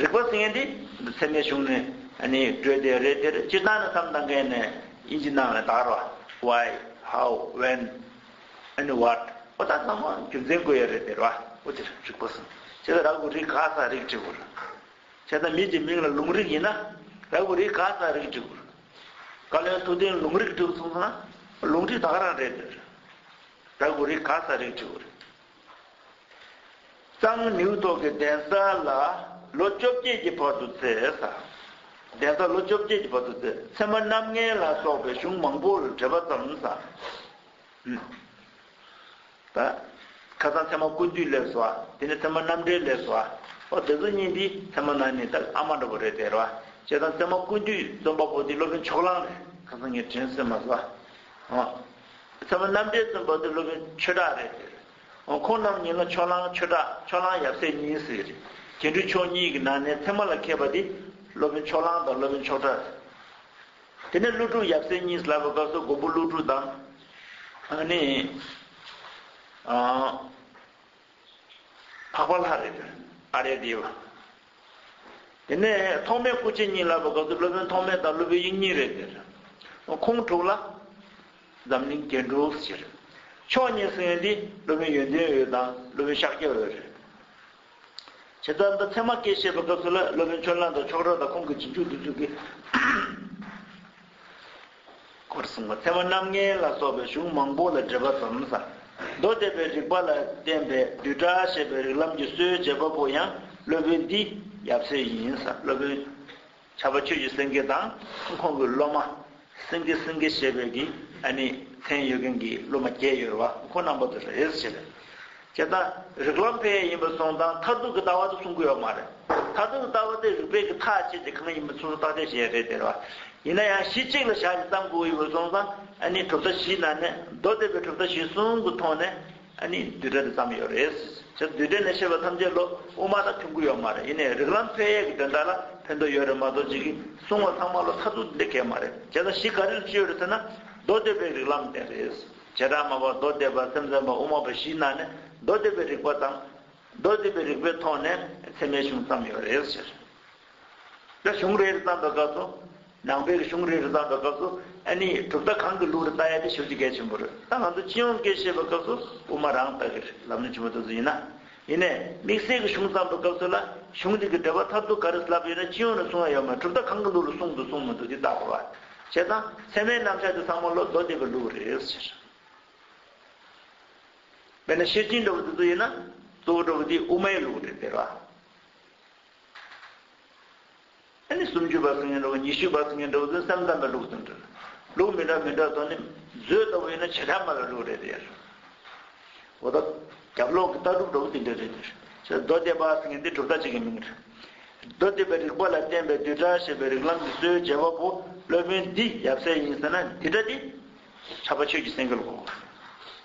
རིག་པ་སེང་གེ་འདི་འདི་ཚད་མའི་གཞུང་ནི་ནི་བགྲོད་དེ་རེད་དེར་སྤྱིར་བཏང་ནི་མཚམས་དང་འགལ་ནས་དབྱིན་ཇི་ནང་ལ་དར་བ why how when and what པོ་ད་ཚང་མ་རྒྱུ་མཚན་དགོས་ཡ་རེད་དེར་བ་པོ་དེར་རིག་པ་སེང་གེ་ད་ར་གུ་རིག་ག་ས་རིག་གྲི་གུ་རུ་ཁྱེད་ད་མི་ཇི་མིང་ལ་ལུང་རིག་ཡིན་ན་ར་གུ་རིག་ག་ས་རིག་གྲི་གུ་རུ་བཀའ་བློན་ཐུགས་བདེན་ལུང་རིག་གྲི་གུ་སོང་ཟ་ལུང་གྲི་ད་ག་རང་རེད་དེར་ར་གུ་རིག་ག་ས་རིག་གྲི་གུ་རུ། གཙང་ནེའུ་ཐོག་གི་གདན་ས་ལ་ལོ་བཅོ་བརྒྱད་ཀྱི་བར་དུ་བཙས། གདན་ས་ལོ་བཅོ་བརྒྱད་ཀྱི་བར་དུ་བཙས། ཚད་མ་རྣམ་ལྔའི་ལ་སོགས་པའི་གཞུང་མང་པོར་འགྲེལ་པ་བརྩམས། ཁ་སང་ཚད་མ་ཀུན་བཏུས་ལས་སོ། དེ་ནས་ཚད་མ་རྣམ་འགྲེལ་ལས་སོ། ཨོ་དེ་ཚོ་གཉིས་འདི་ཚད་མ་ནང་ནས་ཨ་མ་འདྲ་པོ་རེད་དེ་རེད་བ། བྱས་ཙང་ཚད་མ་ཀུན་བཏུས་རྩོམ་པ་པོ་འདི་སློབ་དཔོན་ཕྱོགས་གླང་རེད། ཁ་སང་ངས་དྲན་སོན་མ་ཟོ། ཚད་མ་རྣམ་འགྲེལ་བཙུན་པ་དུ་ལུབ་ཆོས་གྲགས་རེད་ཟེར། ཁོང་རྣམས་ཉིད་ལ་ཕྱོགས་གླང་ཆོས་གྲགས་ཕྱོགས་གླང་ཡབ་སྲས་གཉིས་ཟེར། རྗེ་འབྲུ་ཆོག་གཉིས་ཀྱི་ནང་ནས་ཚད་མ་ལ་མཁས་པ་དེ་སློབ་དཔོན་ཕྱོགས་གླང་དང་སློབ་དཔོན་ཆོག་གྲགས་རེད། དེ་ནས་ཀླུ་སྒྲུབ་ཡབ་སྲས་གཉིས་ལབ་པའི་སྐབས་སུ་མགོན་པོ་ཀླུ་སྒྲུབ་དང། ཨ་ནི། འཕགས་པ་ལྷ་རེ་འདོན་ཨ་རེ་བདེ་བ། དེ་ནས་ཐོག་མའི་སྐུ་མཆེད་གཉིས་ལ་བབ་སྐབས་སུ་སློབ་དཔོན་ཐོག་མའི་དང་སློབ་བུའི་དབྱིངས་གཉིས་རེ་བདེར། ཁོང་དྲུག་ལ། འཛམ་གླིང་རྒྱན་དྲུག་ཕྱིར། མཆོག་གཉིས་གསུང་ཡོན་འདི་སློབ་དཔོན་ཡོན་ཏན་འོད་དང་སློབ་དཔོན་ཤཱཀྱ་འོད་རེད། བྱས་ཙང་ད་ཚད་མ་སྐད་བཤད་པའི་སྐབས་སུ་ལ་སློབ་དཔོན་ཆོས་གླིང་དང་ཆོག་གྲགས་དང་ཁོང་གི་རྗེས་འཇུག་བསྟུན་འཇུག་གི། སྐོར་གསུམ་གོ་ཐལ་བ་རྣམ་ལྔའི་ལ་སོགས་པའི་གཞུང་མང་པོ་ལ་འགྲེལ་པ་དོམ་བཟའ་མདོ་སྡེ་པའི་རིགས་པ་ལ་བརྟེན་པའི་བསྡུས་གྲྭ་ཞེས་པའི་རིགས་ལམ་གྱི་སྲོལ་འབྱེད་པ་པོ་ཡང་སློབ་དཔོན་འདི་ཡབ་སྲས་ཡིན། སློབ་དཔོན་བྱ་བ་ཆོས་ཀྱི་སེང་གེ་དང་ཁོང་གི་སློབ་མ་སེང་གེ་སེང་གེ་ཞེས་པའི་གི་ཨ་ནི་མཚན་ཡོད་མཁན་གྱི་སློབ་མ་བརྒྱད་ཡོད་ར་བ་ཁོ་རྣམ་པ་དུ་རེས་བྱས་པས། བྱས་ན་རིགས་ལམ་ཕལ་ཡིན་པར་སོང་དང་མཐར་ཐུག་གི་ལྟ་བ་དེ་གསུང་གི་ཡོད་མ་རེད། མཐར་ཐུག་གི་ལྟ་བ་དེ་རིགས་པས་གི་ཐག་བཅད་དེ་གང་ཡིན་པ་སོ་སོ་བརྟག་དཔྱད་བྱེད་ཡ་རེད་ཟེར་བ། ཡིན་ན་ཡང་གཞི་གཅིག་ལ་བཞག་ནས་གཏམ་གོ་ཡི་བར་སོང་ཙང་ཨ་ནི་གྲུབ་མཐའ་བཞིའི་ནང་ནས་མདོ་སྡེ་པའི་གྲུབ་མཐའ་གཞི་གསུམ་གི་ཐོག་ནས་ཨ་ནི་བསྡུས་གྲྭ་དེ་བརྩམས་ཡོད་རེད། བྱས་ན་བསྡུས་གྲྭ་ནས་བཤད་པ་ཐམས་ཅད་ལོ་དབུ་མ་དང་མཐུན་གི་ཡོད་མ་རེད་ཡིན་ནའི་རིགས་ལམ་ཕལ་ཡས་ཀྱི་འདོན་སྟངས་ལ་ཕན་ཐོགས་ཡོད་རེད་མ་གཏོགས་ཅིག་གིས་གསུང་བ་ཚང་མ་ལོ་མཐར་ཐུག་འདི་འདྲ་གལ་མ་རེད་བྱས་ན་གཞི་ག་རེ་ལ་བཅོལ་ཡོད་རེད་ཟེར་ན་མདོ་སྡེ་པའི་རིགས་ལམ་དེ་རེད། བྱེ་བྲག་མ་བ་མདོ་སྡེ་པ་སེམས་ཙམ་པ་དབུ་མ་པ་བཞི་ན་ནི་མདོ་སྡེ་པའི་རིགས་པ་དང། མདོ་སྡེ་པའི་རིགས་པའི་ཐོག་ནས་ཚད་མའི་གཞུང་བརྩམས་ཡོད་རེད་ཟེར། ད་གཞུང་རེ་རེ་བརྩམས་པའི་སྐབས་སུ། ནང་པའི་གཞུང་རེ་རེ་བརྩམས་པའི་སྐབས་སུ་ཨ་ནི་གྲུབ་མཐའ་གང་གི་ལུགས་རེ་བལྟ་ཡ་དེ་ཞུ་རྒྱུ་གལ་ཆེན་པོ་རེད། ད་ང་ཚོ་སྤྱི་ཡོངས་ཀས་བཤད་པའི་སྐབས་སུ་དབུ་མ་རང་ལྟ་གི་རེད་ལམ་ནོར་ཆེན་པོ་དེ་ཚོ་ཡིན་ན། ཡིན་ནས་དམིགས་བསལ་གྱི་གཞུང་བརྩམས་པའི་སྐབས་སུ་ལ་གཞུང་དེ་གི་འགྲེལ་པ་ཐབས་རྡུགས་ག་རེ་བསླབས་ཡོད་ན་སྤྱི་ཡོངས་ལ་གསུང་བ་ཡོད་མ་གྲུབ་ད་གང་གི་ལུགས་ལ་གསུང་འདུག་གསུང་མི་འདུག་དེ་བལྟ་དགོས། བྱས་ཙང་ཚད་མའི་རྣམ་གཞག་དེ་ཚང་མ་ལོ་རྡོ་རྡེག་པའི་ལུགས་རེད། ཟེར། དཔེར་ན་ཤེར་ཕྱིན་འགྲོ་བ་དེ་ཚོ་ཡིན་ན། གཙོ་བོ་འགྲོ་བ་དེ་དབུ་མའི་ལུགས་རེད་ཟེར་བ། ཨ་ནི་སུམ་ཅུ་པ་སུ་ངན་འགྲོ་གི་ཉི་ཤུ་པ་སུ་ངན་འགྲོ་གི་ཟིན་སེམས་ཙམ་པའི་ལུགས་སུ་འདྲི། ལུགས་མི་འདྲ་མི་འདྲ་དོ་ནི། མཛོད་ལྟ་བུ་ཡིན་ན་བྱེ་བྲག་སྨྲ་བའི་ལུགས་རེད་ཟེར། འོ་ད། རྒྱབ་ལོག་གི་ལྟ་གྲུབ་འགྲོ་གི་དེ་འདྲ་རེད་ཟེར། ཟེར་མདོ་སྡེ་པ་སུ་ངན་འདི་གྲུབ་མཐའ་གཅིག་གི་མིང་རེད། མདོ་སྡེ་པའི་རིགས་པ་ལ་བརྟེན་པའི་བསྡུས་གྲྭ་ཞེས་པའི་རིགས་ལམ་གྱི་སྲོལ་རྒྱལ་བ་པོ་སློབ་དཔོན་འདི་ཡབ་སྲས་ཡིན་ཟེར་ན་འདི་འདྲ་སྟེ། ཆགས་པ་ཆོས་ཀྱི་སེང་གེ་ལ་གོ།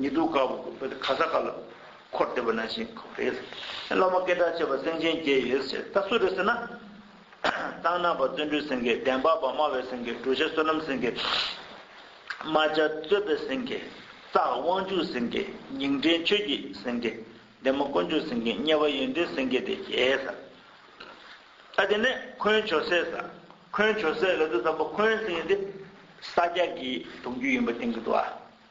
ཉི་དུ་དཀར་པོ་བོད་དུ་ག་ས་ག་ལ་འཁོར་འདེབས་པ་ན་བཞིན་འཁོར་བ་རེད། བླ་མ་སྐད་གྲགས་ཆེ་བ་སེང་ཆེན་བརྒྱད་ཡོད་ཟེར་ད་སུ་རེད་ཟེར་ན། ཏང་ནང་པ་བརྩོན་འགྲུས་སེང་གེ་བདེན་པ་པདྨ་བའི་སེང་གེ་གྲུ་བཞི་བསོད་ནམས་སེང་གེ། རྨ་བྱ་རྩོད་པའི་སེང་གེ། རྩ་དབང་ཕྱུག་སེང་གེ་ཉིང་འདྲེན་ཆོས་ཀྱི་སེང་གེ། འདན་མ་དཀོན་མཆོག་སེང་གེ་དམྱལ་བ་ཡོན་ཏན་སེང་གེ་དེ་བརྒྱད་ཟ། ཨ་དེ་ནས་འཁོན་བྱོ་སའི་ཟ། འཁོན་བྱོ་སའི་ལ་དུ་ཟ་འབོ་འཁོན་སེང་གེ་དེ་ས་སྐྱ་གི་གདུང་རྒྱུད་ཡིན་པ་བསྟན་གྱི་འདུག་ཨ།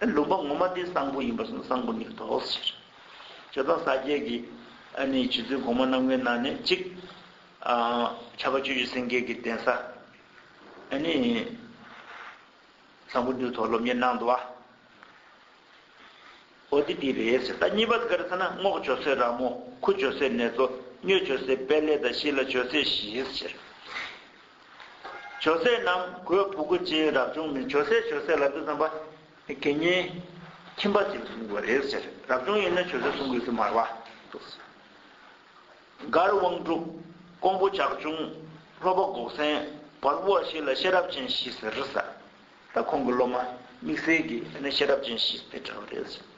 དེ་ལུང་པ་ངོ་མ་དེ་གསང་ཕུ་ཡིན་པར་གསུངས་གསང་ཕུ་ནི་དོགས་སོ་ཞེས་བྱ། བྱེ་ཐང་ས་བརྒྱད་ཀྱི་ནི་བྱེད་ཚུལ་གོང་མ་རྣམས་ཀྱི་ནང་ནས་གཅིག། ཁྱབ་པ་བཅུ་བཞི་སེང་གེ་གི་གདན་ས་ནི། གསང་ཕུ་འདུས་ཐོག་སློབ་གཉེར་གནང་འདུག་བ། འོ་དེ་འདི་རེད་ཟེར་ད་གཉིས་པ་ག་རེ་ཟེར་ན་རྔོག་བྱོ་སའི་ར་མོ་ཁུ་བྱོ་སའི་ནེ་ཙོ་སྨྱོས་བྱོ་སའི་དཔལ་ལས་ད་བཞི་ལ་བྱོ་སའི་བཞིའི་ཟེར། ཇོ་སྲས་རྣམས་གོས་བུ་གུ་ཅིའི་རབ་བྱུང་མི་ཇོ་སྲས་ཇོ་སྲས་ལ་དུས་བརྩམས་པ། གད་སྙིགས། ཁྱིམ་པ་ཅིག་བཟུང་དགོས་རེད་ཟེར་རབ་བྱུང་ཡིན་ན་ཇོ་སྲས་བཟུང་དགོས་ཀྱི་མར་བ། མགར་དབང་སྒྲུབ། ཀོང་པོ་ཇག་ཆུང། ལྷོ་པ་འགོག་སེང། བར་བུ་བ་བཞི་ལ་ཤེས་རབ་ཅན་བཞི་ཟེར་ས། ད་ཁོང་གི་སློབ་མ། དམིགས་བསལ་གྱི་ཡིན་ན་ཤེས་རབ་ཅན་བཞི་དེ་འདྲ་བ་རེད་ཟེར།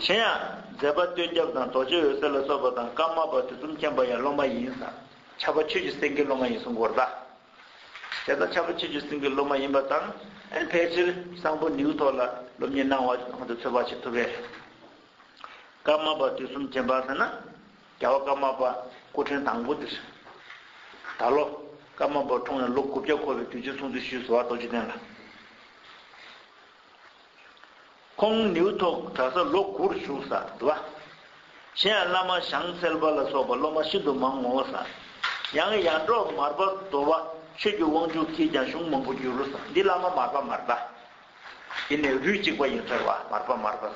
གཞན་ཡང། མཛད་པ་སྟོད་རྒྱབ་དང་རྡོ་རྗེ་འོད་ཟེར་ལ་སོགས་པ་དང་ཀརྨ་པ་དུས་གསུམ་མཁྱེན་པ་ཡང་སློབ་མ་ཡིན་ས། ཆགས་པ་ཆོས་ཀྱི་སེང་གེའི་སློབ་མ་ཡིན་གསུང་གོ་བརྡ། དེ་ལྟར་ཆགས་པ་ཆོས་ཀྱི་སེང་གེའི་སློབ་མ་ཡིན་པ་དང་ཕལ་ཆེར་གསང་ཕུ་ནེའུ་ཐོག་ལ་སློབ་གཉེར་གནང་བ་གོང་དུ་ཚོད་དཔག་བྱེད་ཐུབ་པས། ཀརྨ་པ་དུས་གསུམ་ཅན་པ་ཟེར་ན་རྒྱལ་བ་ཀརྨ་པ་སྐུ་ཕྲེང་དང་པོ་འདིར། ད་ལོ་ཀརྨ་པ་འཁྲུངས་ནས་ལོ་དགུ་བརྒྱ་འཁོར་བའི་དུས་ཆེན་སྲུང་བརྩི་ཞུས་སུ་བ་རྡོ་རྗེ་གདན་ལ། ཁོང་ནེའུ་ཐོག་གྲྭ་ས་ལོ་དགུ་རུ་བཞུགས་ས་དུ་བ། གཞན་ཡང་བླ་མ་ཞང་གསལ་བ་ལ་སོགས་པ་སློབ་མ་ཤིན་ཏུ་མང་ངོ་བོ་ས། ཡང་ཡར་འབྲོག་མར་པ་དོ་བ་ཆོས་ཀྱི་དབང་ཕྱུག་གིས་ཀྱང་གཞུང་མང་པོ་བསྒྱུར་རུ་ས་འདི་བླ་མ་མར་པ་མར་པ། འདི་ནི་རུས་གཅིག་པ་ཡིན་ཟེར་བ་མར་པ་མར་པ་ས།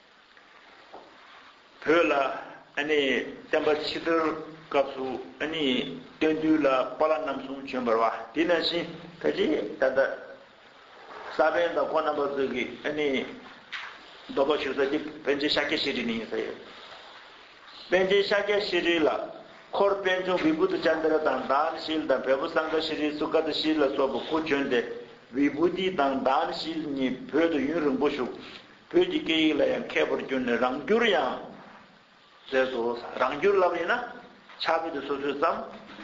བོད་ལ་བསྟན་པ་ཕྱི་དར་སྐབས་སུ་སྟོན་དུས་ལ་པ་ལ་རྣམ་གསུམ་བྱོན་པར་བ་དེ་ན་བཞིན་ད་ཅི་ད་ལྟ་ས་པན་དང་ཀོ་ནམ་པ་སོགས་ཀྱི་གདོལ་པ་ཞུ་ས་དེ་བན་རྗེ་ཤཱཀྱ་ཤྲི་རི་ནི་ཡིན་ས་ཡོད། བན་རྗེ་ཤཱཀྱ་ཤྲི་རི་ལ་འཁོར་དཔལ་འབྱུང་བི་བུ་ཏི་ཅཱན་ཏི་ར་དང་དཱན་ཤཱིལ་དང་བལ་པོ་སངྒ་ཤྲི་རི་སུ་ཀ་ཏི་ཤྲི་ལ་སོགས་པ་དགུ་བྱོན་ཏེ་བི་བུ་ཏི་དང་དཱན་ཤཱིལ་གཉིས་བོད་དུ་ཡུན་རིང་པོ་བཞུགས། བོད་ཀྱི་སྐད་ཡིག་ལ་ཡང་མཁས་པར་གྱུར་ནས་རང་བསྒྱུར་ཡང་མཛད་དོ། རང་བསྒྱུར་ལབ་ཡིན་ན་ཕྱག་དཔེ་དེ་སོ་སོའི་བརྩམས་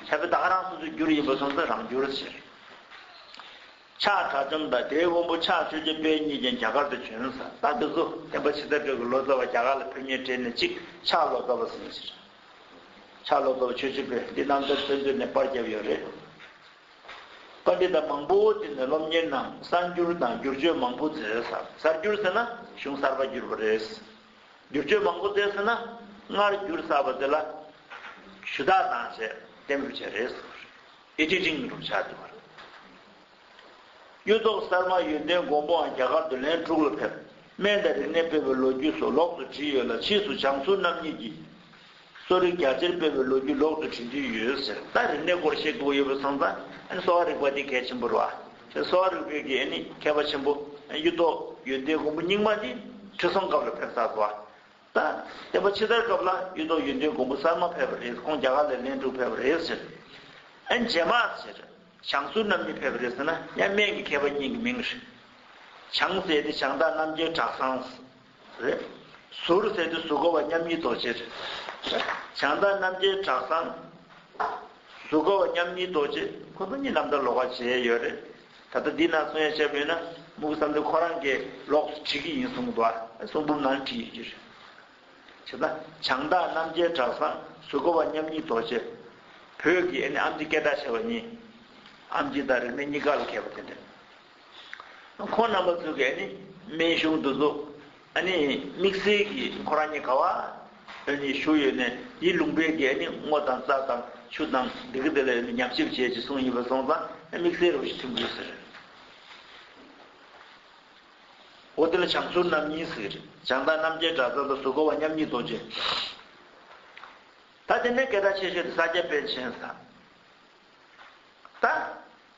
ཕྱག་དཔེ་དག་རང་སོ་སོའི་བསྒྱུར་ཡིན་པར་སོང་ཙང་རང་བསྒྱུར་ཟེར། ཕྱག་དྲ་བཅོམ་དང་དེའི་དབོན་པོ་ཕྱག་ཆོས་རྒྱ་དཔལ་གཉིས་ཀྱང་རྒྱ་གར་དུ་བྱོན། ས་སྟག་འདི་ཚོ་བསྟན་པ་ཇི་ལྟར་སྤྲོས་ཀྱི་ལོ་ཙཱ་བ་རྒྱ་གར་ལ་ཕེབས་ཉེར་འཕྲད་ནས་ཅིག་ཕྱག་ལོ་ཙཱ་བ་ཟིན་ཟེར། ཕྱག་ལོ་ཙཱ་བ་ཆོས་རྗེ་དཔལ་འདི་རྣམ་ཐར་བཙན་བྱོལ་ནས་པར་བརྒྱབ་ཡོད་རེད། བཀའ་འདི་ལྟ་མང་པོའོ་དེ་ནས་སློབ་གཉེར་ནང་གསར་འགྱུར་དང་བསྒྱུར་བཅོས་མང་པོ་མཛད་ཟེར། གསར་འགྱུར་ཟེར་ན་གཞུང་གསར་པ་བསྒྱུར་བ་རེད། བསྒྱུར་བཅོས་མང་པོ་མཛད་ཟེར་ན་སྔར་བསྒྱུར་གསར་པ་དེ་ལ་ཞུ་དག་དང་བཅས་གཏན་འབེབས་བྱས་རེད་ཟེར། ཨེ་ཅི་ཅིང་སྒྲུབ་བྱ་འདི་བ་རེད། གཡུ་ཐོག་གསར་མ་ཡོན་ཏན་མགོན་པོའང་རྒྱ་གར་དུ་ལན་དྲུག་ལ་ཕེབས། སྨན་དང་རིག་གནས་སྤེལ་བའི་ལོ་རྒྱུས་སོགས་ལོགས་སུ་བྲིས་ཡོད་ལ་ཕྱིས་སུ་བྱང་ཟུར་རྣམ་གཉིས་ཀྱིས་གསོ་རིག་རྒྱ་ཆེར་སྤེལ་བའི་ལོ་རྒྱུས་ལོག་ཏུ་བྲིས་འདུས་ཡོད་ཟེར། ལྟ་རིག་གནས་སྐོར་ཤེས་རྟོགས་ཡོད་པའི་ཚང་ཚང་ཨན་གསོ་བ་རིག་པ་དེ་གལ་ཆེན་པོ་རུ་ཨ། ཤེས་གསོ་བ་རིག་པའི་གལ་ཨན་ཁྱད་པ་ཆེན་པོ་ཨན་གཡུ་ཐོག་ཡོན་ཏན་མགོན་པོ་རྙིང་མ་དེ་ཁྲི་སྲོང་སྐབས་ལ་ཕེབས་ས་སོ་ཨ། ད་ལྟ་པ་ཕྱི་དར་སྐབས་ལ་གཡུ་ཐོག་ཡོན་ཏན་མགོན་པོ་གསར་མ་ཕེབས་པ་རེད་ཁོང་རྒྱ་གར་ལས་ལན་དྲུག་ཕེབས་པ་རེད་ཟེར། ཨན་རྗེས་མ་ཟེར། བྱང་ཟུར་རྣམ་གཉིས་ཕེབས་པ་རེད་ཟེར་ན་ཡང་སྨན་གྱི་མཁས་པ་གཉིས་ཀྱི་མིང་རེད། བྱང་ཟེར་ཏེ་བྱང་བདག་རྣམ་རྒྱལ་གྲགས་སངས། རེད། ཟུར་ཟད་དུས་སུ་གོ་བ་མཉམ་ཉིད་རྡོ་རྗེ་རེད། བྱང་བདག་རྣམ་རྒྱལ་གྲགས་བཟང། སུ་གོ་བ་མཉམ་ཉིད་རྡོ་རྗེ་ཁོ་ཚོ་གཉིས་རྣམ་ཐར་ལོག་པར་བྱས་ཡོད་རེད། ད་ལྟ་འདི་ན་གསུང་ཡ་ཆེ་པོ་ཡོད་ན་དམུ་བསམ་དེ་ཁོ་རང་གིས་ལོགས་སུ་བྲིས་ཀྱི་ཡིན་གསུངས་འདུག་ཨ་གསུང་འབུམ་ནང་བྲིས་ཡོད་ཀྱི་རེད། བྱས་ན། བྱང་བདག་རྣམ་རྒྱལ་གྲགས་བཟང་སུ་གོ་བ་མཉམ་ཉིད་རྡོ་རྗེ། བོད་ཀྱི་ཨ་ནེ་ཨམ་ཅི་སྐད་གྲགས་ཆེ་བ་གཉིས། ཨམ་ཅི་དང་རིག་གནས་གཉིས་ཀ་ལ་མཁས་པ་དེ་འདྲ། ཁོང་རྣམ་པ་ཚོ་གས་ནི་སྨན་གཞུང་དུ་ཟུག། ཨ་ནི་དམིགས་བསལ་གྱིས་ཁོ་རང་ཉིད་ག་བ་ཨོ་ནི་བཞུགས་ཡོད་ནས་ཡིད་ལུང་པའི་གས་ནི་སྔོ་དང་རྩ་དང་ཆུ་དང་འདི་ག་དེ་ལ་ཨོ་ནི་ཉམས་ཞིབ་བྱས་ཅི་གསུངས་ཡིན་པ་སོང་ཙང་དམིགས་བསལ་རུ་བཞི་ཐུན་དགོས་ཟེར། འོ་དེ་ལ་བྱང་ཟུར་རྣམ་གཉིས་ཟེར། བྱང་དང་རྣམ་རྒྱལ་བྲག་རྩ་དང་ཟུར་ག་བ་མཉམ་ཉིད་རྡོ་རྗེ། ད་དེ་ནས་གས་ད་ཆེ་ཤོས་དེ་ས་སྐྱ་པཎ་ཆེན་ཟ། ད།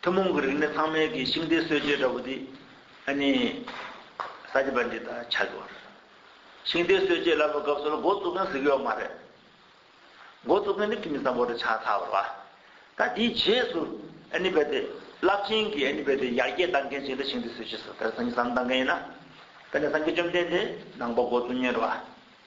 ཐུན་མོང་གི་རིག་གནས་ཚང་མལ་གྱི་ཤིང་རྟའི་སྲོལ་འབྱེད་འདྲ་བོ་འདི་ཨ་ནི་ས་སྐྱ་པ་འདི་དང་ཆགས་ཀྱི་བ་རེད། ཤིང་རྟའི་སྲོལ་འབྱེད་ལབ་པའི་སྐབས་སུ་ལ་མགོ་བཙུགས་མཁན་གཟིགས་ཡོད་མ་རེད། མགོ་བཙུགས་མཁན་ནི་ཁྱིམ་མི་བཟང་པོ་རེད་ཆགས་ཚར་བ་ལ། ད་དེའི་རྗེས་སུ་ཨ་ནི་རྦད་དེ་རླབས་ཆེན་གྱི་ཨ་ནི་རྦད་དེ་ཡར་རྒྱས་གཏང་མཁན་ཞིག་ལ་ཤིང་རྟའི་སྲོལ་འབྱེད་སོགས་དེར་སངས་གཏང་མཁན་ཡིན་ན། ད་ནི་སངས་རྒྱས་བཅོམ་ལྡན་འདས་ནང་པ་མགོ་བཙུགས་ཉེར་བ་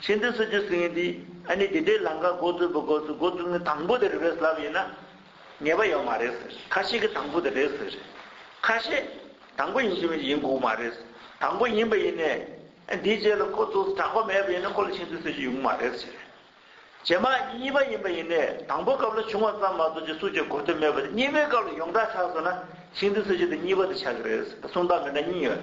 ཤིན་ཏུ་སུ་རྒྱུ་ཟིན་འདི་ཨ་ནི་དེ་འདྲའི་ལང་ཀ་མགོ་བཙུགས་པ་གོ་ཚུལ་མགོ་བཙུགས་ནི་དང་པོ་དེ་རེད་བས་ལབ་ཡིན་ན་ངེས་པ་ཡོད་མ་རེད་ཟེར་ཁ་ཤས་ཀྱི་དང་པོ་དེ་རེད་ཟེར་ཁ་ཤས་དང་པོ་ཡིན་གྱི་མིན་གྱི་ཡིན་དགོས་མ་རེད་དང་པོ་ཡིན་པ་ཡིན་ནས་ཨ་འདིའི་རྗེས་ལ་ཁོ་ཚོ་སུ་གྲགས་པ་མེད་པ་ཡིན་ན་ཁོ་ལ་ཤིན་ཏུ་སུ་རྒྱུ་ཡོང་གི་མ་རེད་ཟེར། རྗེས་མ་གཉིས་པ་ཡིན་པ་ཡིན་ནས་དང་པོ་སྐབས་ལ་བྱུང་བ་ཙམ་མ་གཏོགས་རྗེས་སུ་རྒྱུ་གོ་ཐོས་མེད་པ་དེ་གཉིས་པའི་སྐབས་ལ་ཡོངས་གྲགས་ཆགས་སོང་ན་ཤིན་ཏུ་སུ་རྒྱུ་དེ་གཉིས་པ་དེ་ཆགས་ཀྱི་རེད་ཟེར་སུམ་རྟགས་མི་འདྲ་གཉིས་ཡོད།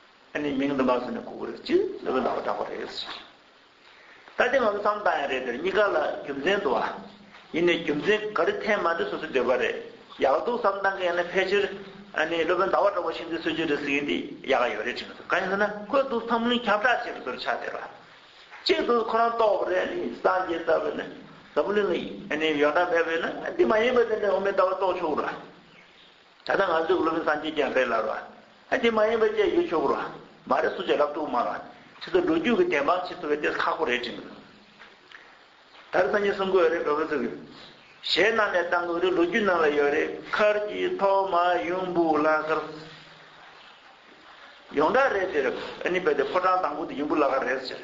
ཨ་ནི་མིང་འདི་མ་གསུངས་ནས་གོ་གི་རེད་ཅེས་ལོས་པའི་ལག་པ་བསྒྲགས་པ་རེད། ད་ལྟའི་ང་ཚོ་བསམ་བཏང་ཡ་རེད་དེར་གཉིས་ཀ་ལ་རྒྱུ་མཚན་འདུག་ཨ། ཡིན་ནའི་རྒྱུ་མཚན་ག་རེ་འཐེན་མ་འདི་སོ་སོའི་འདོད་པ་རེད། ཡག་སྡུག་བསམ་བཏང་གི་ཡ་ན་ཕལ་ཆེར་ཨ་ནི་ལོས་པའི་ལྡ་བ་བསྒྲགས་པ་ཤིན་ཏུ་སྲོལ་རྒྱུན་རེད་ཟེར་གྱི་འདི་ཡག་ག་ཡོད་རེད་དྲིས་མི་ཐུབ་ག་ཡིན་ཟེར་ན་ཁོས་དུ་བསམ་བློའི་ཁྱབ་བསྒྲགས་བྱེད་པའི་སོར་ཆགས་དེ་ར། གཅིག་དུ་ཁོ་རང་རྟོགས་པ་རེད་ཨ་ནི་སངས་རྒྱས་ལྟ་བུ་ནི་འཛམ་བུ་གླིང་ལ་ཨ་ནི་ཡོ་ན་མེད་པས་ན་འདི་མ་ཡིན་པ་དེ་འདྲ་འོ་མའི་ལྟ་བ་རྟོགས་ཆོག་གི་ར། ད་ལྟ་ང་ཚོའི་སློབ་མའི་སངས་རྒྱས་ཀྱང་རེད་ལབ་ར། དེ་མ་ཡིན་པ་བཅས་ཡོད་ཆོག་གོ་ར། མ་རེད་སུ་བཅས་ལབ་ཐུག་མ་ར། ཁྱེད་ཚོ་ལོ་རྒྱུས་ཀྱི་བདེན་དཔང་བྱེད་ཐུབ་པའི་ལྟས་ས་ཁག་པོ་རེད་དྲན་གི་འདུག། ད་རེ་སངས་རྒྱས་གསུང་གི་ཡོད་རེད་བོད་པ་ཚོ་གི། གཞས་གནང་ནས་བཏང་གི་རེད་ལོ་རྒྱུས་ནང་ལ་ཡོད་རེད་མཁར་གྱི་ཐོག་མ་ཡུམ་བུ་བླ་མཁར། ཡོངས་གྲགས་རེད་དེ་རེད། ཕོ་བྲང་དང་པོ་དེ་ཡུམ་བུ་བླ་མཁར་རེད་ཟེར།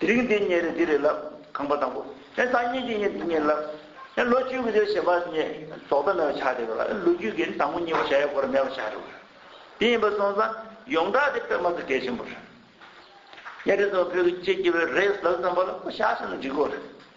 དེ་རིང་འདི་རྙེད་རེད་འདི་རེད་ལབ། ཁང་པ་དང་པོ། ཨེ་སང་ཉིན་འདི་རྙེད་འདི་རྙེད་ལབ། ཨེ་ལོ་བཅུ་གི་རྗེས་ཞེས་པ་རྙེད། རྫོགས་མཐའ་མེད་པ་ཆགས་བསྡད་པ་ལ་ཨེ་ལོ་རྒྱུས་ཀྱི་དང་པོ་གཉིས་པ་བྱ་ཡས་སྐོར་མེད་པ་ཆགས་རེད་བ། དེ་ཡིན་པར་སོང་ཙང་ཡོངས་གྲགས་དེ་དཔེ་མ་ཚོ་གལ་ཆེན་པོ་རེད། གཉའ་ཁྲི་ཚོ་བོད་ཀྱི་སྤྱི་རྒྱུ་བའི་རེས་ལག་ཙམ་པ་ལ་ཁོ་ཤ་ཟ་ན་འགྲིག་གོ་རེད།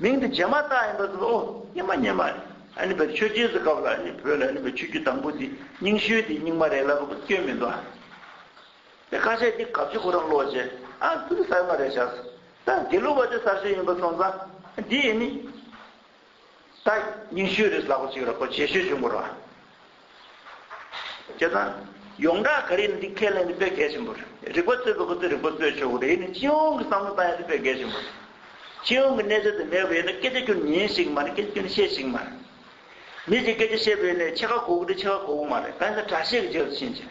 མིང་འདི་རྗེས་མ་བཏགས་ཡིན་པ་ཟེར་ཨོ་སྙེ་མ་སྙེ་མ། ཨཱ་ནི་བེར་ཆོས་རྗེས་སུ་གབ་ལ་ཨཱ་ནི་བོད་ལ་ཨཱ་ནི་བེར་ཆོས་རྒྱུད་དང་པོ་འདི་རྙིང་ཤོས་འདི་རྙིང་མ་རེད་ལབ་དགོས་སྐྱོན་མི་འདུག་ཨ། དེ་ཁ་ཤས་འདི་གབ་ཆོས་ཁོ་རང་ཀློག་རྗེས་ཨ་འདི་ནི་གསར་མ་རེད་བྱ་སྲིད། ད་དགེ་ལུགས་པ་དེ་གསར་ཤོས་ཡིན་པ་སོང་ཙང་འདི་ཨཱ་ནི། ད་རྙིང་ཤོས་རེད་ལབ་དགོས་ཅིག་ར་ཁོ་རྗེས་ཤོས་བྱུང་དགོས་རོགས། བྱས་ཙང། ཡོངས་གྲགས་ག་རེ་ཡིན་འདི་ཁས་ལེན་འདི་དཔེ་གལ་ཆེན་པོ་རེད། རིག་པ་རྩོད་པའི་ཁོ་ཚོས་རིག་པ་རྩོད་ཆོག་གི་རེད་ཡིན་ནའི་སྤྱི་ཡོངས་ཀྱི་བསམ་བློ་བཏང་ཡ་འདི་དཔེ་གལ་ཆེན་པོ་རེད། སྤྱི་ཡོངས་ཀྱི་གནས་ཚད་དེ་མེད་པ་ཡིན་ན་སྐད་ཆ་ཀྱོན་ཉན་ཞིག་མ་རེད་སྐད་ཆ་ཀྱོན་བཤད་ཞིག་མ་རེད། མི་ཞིག་སྐད་ཆ་བཤད་པ་ཡིན་ནའི་ཕྱེད་ཀ་གོ་གི་རེད་ཕྱེད་ཀ་གོ་གི་མ་རེད་གང་ཡིན་ན་དྲ་ཤེས་ཀྱི་རྗེས་སུ་ཕྱིན་ཅིག།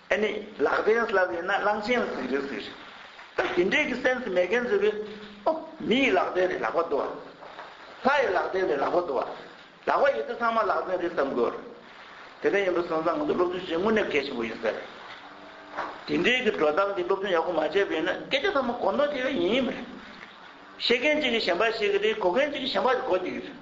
ཨེ་ནི། ལག་བརྟན་སླ་བས་ན་གླང་ཆེན་ལ་ཟིག་རེད་ཟེར། ད་དེ་འདྲས་ཀྱི་སེམས་མེད་མཁན་ཟེར་བས། ཨོ། མི་ཡི་ལག་བརྟན་རེད་ལག་པ་རྡོ་བ། ལྷ་ཡི་ལག་བརྟན་རེད་ལག་པ་རྡོ་བ། ལག་པ་ཡོད་དུས་ཚང་མ་ལག་བརྟན་རེད་བསམ་དགོས། དེ་འདྲ་ཡིན་པ་སོང་ཙང་ང་ཚོ་སློབ་ཆུང་ཆེན་མོ་ནས་གལ་ཆེན་པོ་ཡིན་ཟེར། དེ་འདྲས་ཀྱི་འགྲོ་སྟངས་འདི་སློབ་ཆུང་ཡག་པོ་མ་བྱས་པས་ན་སྐད་ཆ་ཚང་མ་གོ་མདོག་ཆེ་བས་ཡིན་ཡིན་མ་རེད། བཤད་མཁན་གཅིག་གིས་གཞན་པ་བཤད་ཀྱི་རེད་གོ་མཁན་གཅིག་གིས་གཞན་པ་གོ་རྒྱུ་ཡིན་རེད།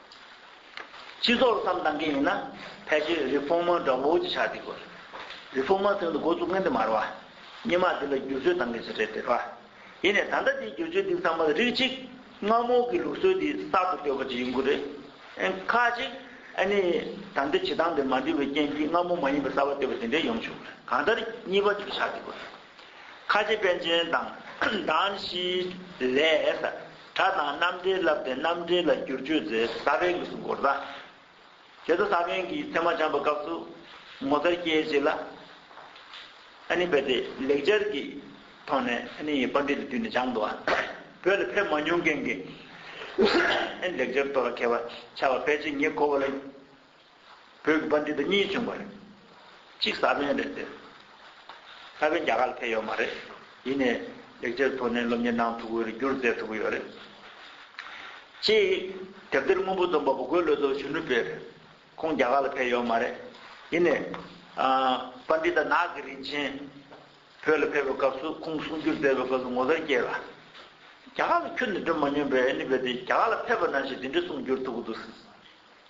སྤྱི་ཚོགས་ལ་བསམ་གཏང་མཁན་ཡིན་ན་ཕལ་ཆེར་རི་བོང་མོ་འདྲ་བོ་ཅིག་ཆགས་བསྡད་དགོས། རི་བོང་མོ་དོན་དུ་འགོ་བཙུགས་མཁན་དེ་མར་བ། སྙེ་མ་འདི་ལ་བསྒྱུར་བཅོས་གཏང་མཁན་ཚོ་རེད་ཟེར་བ། ཡིན་ནས་ད་ལྟ་དེའི་བསྒྱུར་བཅོས་འདི་ཚང་མ་རིགས་གཅིག་རྔ་མོང་གི་ལུགས་སྲོལ་འདིའི་གསར་དུ་བཏོད་པ་ཅིག་ཡིན་དགོས་རེད། ཁ་ཅིག་ཨ་ནི་ད་ལྟའི་བྱེད་སྟངས་འདི་མ་འགྲིག་པའི་རྐྱེན་གྱིས་རྔ་མོང་མ་ཡིན་པའི་གསར་བ་བཏོད་པ་དེ་འདྲས་ཡོང་ཆོག་གི་རེད་གང་ལྟར་གཉིས་པ་ཅིག་ཆགས་བསྡད་དགོས་རེད། ཁ་རྗེ་པན་ཆེན་དང་དཱན་བཞིའི་ལས། གྲྭ་དང་རྣམ་འགྲེལ་བསླབས་ཏེ་རྣམ་འགྲེལ་ལ་བསྒྱུར་བཅོས་མཛད། ས་པའི་དབུས་སུ་འགོར་ཟླ། དེ་ཚོ་ས་པན་གྱིས་ཚད་མ་བྱམས་པ་སྐབས་སུ་ངོ་མཚར་སྐྱེས་བྱེད་ལ་ནི་འབད་དེ་ལེགས་སྦྱར་གྱི་ཐོག་ནས་ནི་པར་འགྲེལ་དུ་བསྡུས་ནས་སྦྱངས། བོད་ལ་ཕེབས་མ་མྱོང་མཁན་གྱིས་ནི་ལེགས་སྦྱར་གཏོར་ལ་མཁས་པ་ཆགས་པ་ཕལ་ཆེར་ངེད་ཁོ་བོ་ལ། བོད་ཀྱི་དཔོན་རིགས་འདི་གཉིས་བྱུང་བ་རེད། གཅིག་ས་བོན་རེད་དེ། ས་བོན་རྒྱ་གར་ལ་ཕེབས་ཡོད་མ་རེད། ཡིན་ནས་ལེགས་ཆའི་ཐོག་ནས་སློབ་གཉེར་གནང་ཐུབ་ཀྱི་རེད་སྒྱུར་མཛད་ཐུབ་ཀྱི་ཡོད་རེད། གཅིག་དེབ་ཐེར་སྔོན་པོ་རྩོམ་པ་པོ་གོས་བློ་རྡོ་གཞོན་ནུ་དཔེ་རེད། ཁོང་རྒྱ་གར་ལ་ཕེབས་ཡོད་མ་རེད། ཡིན་ནས། པ་འདི་དང་ནགས་ཀྱི་རིན་ཆེན། བོད་ལ་ཕེབས་པའི་སྐབས་སུ་ཁོང་གསུང་རྒྱུར་མཛད་པའི་སྐབས་སུ་ངོ་མཚར་སྐྱེས་ལ། རྒྱ་གར་ལ་ཁྱོད་ནི་སྒྲོན་མ་སྨྱོན་པས་ནི་བོད་དེ་རྒྱ་གར་ལ་ཕེབས་པ་ན་ཞེས་དེ་འདྲའི་གསུང་བསྒྱུར་ཐུབ་ཀྱི་འདུག་སྲིད།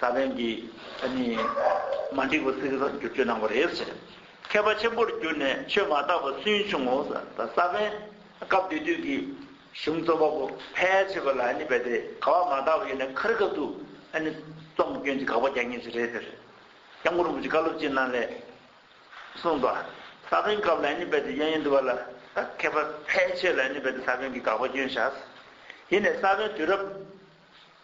ས་བོན་འདི་ནི་མ་འགྲིག་པ་ཚིག་བསྒྱུར་བཅོས་གནང་བ་རེད་ཟེར། མཁས་པ་ཆེན་པོར་གྱུར་ནས་ཆོས་མ་དག་པ་སུན་ཕྱུང་ངོ། ས་བོན་སྐབས་དེ་དུས་ཀྱི་གཞུང་རྩོམ་པ་པོ་ཕལ་ཆེ་བ་ལ་རྦད་དེ་དགའ་བ་མ་དག་པ་ཡོད་ནས་ཁ་རི་ཁ་ཐུག་རྩོམ་སྐྱོན་གྱི་དགག་པ་རྒྱག་ངེས་ཤིག་རེད་ཟེར། སྐྱབས་མགོན་རིན་པོ་ཆེ་བཀའ་སློབ་སྤྱི་གནང་ལས་གསུངས་པ། ས་བོན་སྐབས་ལ་རྦད་དེ་གཡོན་གཡོན་འདུག་པ་ལ་མཁས་པ་ཕལ་ཆེ་བ་ལ་རྦད་དེ་ས་བོན་གྱི་དགག་པ་སྐྱོན་བཞག། ཡིན་ནས་ས་བོན་དུས་རབས།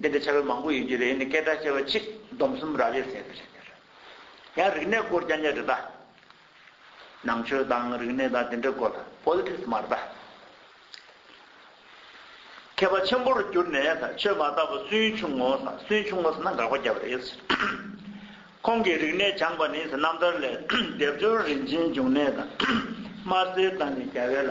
འདི་འདྲའི་བྱ་བའི་མང་པོ་ཡོད་ཀྱི་རེད་ནི་སྐད་གྲགས་ཆེ་བ་ཆིག་སྡོམ་གསུམ་རག་ལས་ཟེར་ཀྱི་རེད། ཡང་རིག་གནས་སྐོར་ཀྱང་ཉེ་རེ་ད། ནང་ཆོས་དང་རིག་གནས་དང་དེ་འདྲའི་སྐོར་ལ Politics མ་རེ་ད། མཁས་པ་ཆེན་པོར་གྱུར་ནས་ད་ཆོས་མ་རྟག་པ་སུན་ཕྱུང་ངོ་ཟ་སུན་ཕྱུང་ངོ་ཟ་ན་འགག་པ་རྒྱབ་རེད་ཟེར། ཁོང་གིས་རིག་གནས་སྦྱངས་པ་ནི་ཟེར་རྣམ་ཐར་ལས་སྡེབ་སྦྱོར་རིན་ཆེན་འབྱུང་གནས་དང་དམར་སེར་དང་ནི་རྒྱ་བལ།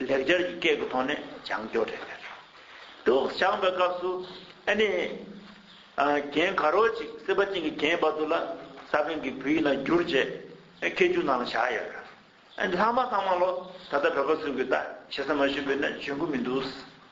ལེགས་སྦྱར་གྱི་སྐད་ཀྱི་ཐོག་ནས་སྦྱང་སྐྱོར་རེ་གནང། དུག་སྦྱངས་པའི་སྐབས་སུ་ཨ་ནི། གན་ག་རོ་ཅིག་སྲིད་པ་ཅན་གྱི་གན་བ་དུ་ལ་ས་བོན་གྱི་བུ་ཡིན་ན་འགྱུར་ཅེས་ཁྱེད་ཅུང་ནང་ལ་བཞག་ཡོད། ལྷག་མ་ཚང་མ་ལོ་ད་ལྟ་བོད་པ་སུ་གུས་ལྟ་བྱེད་ས་མ་ཞུས་པས་ན་འཇོན་གི་མི་འདུག།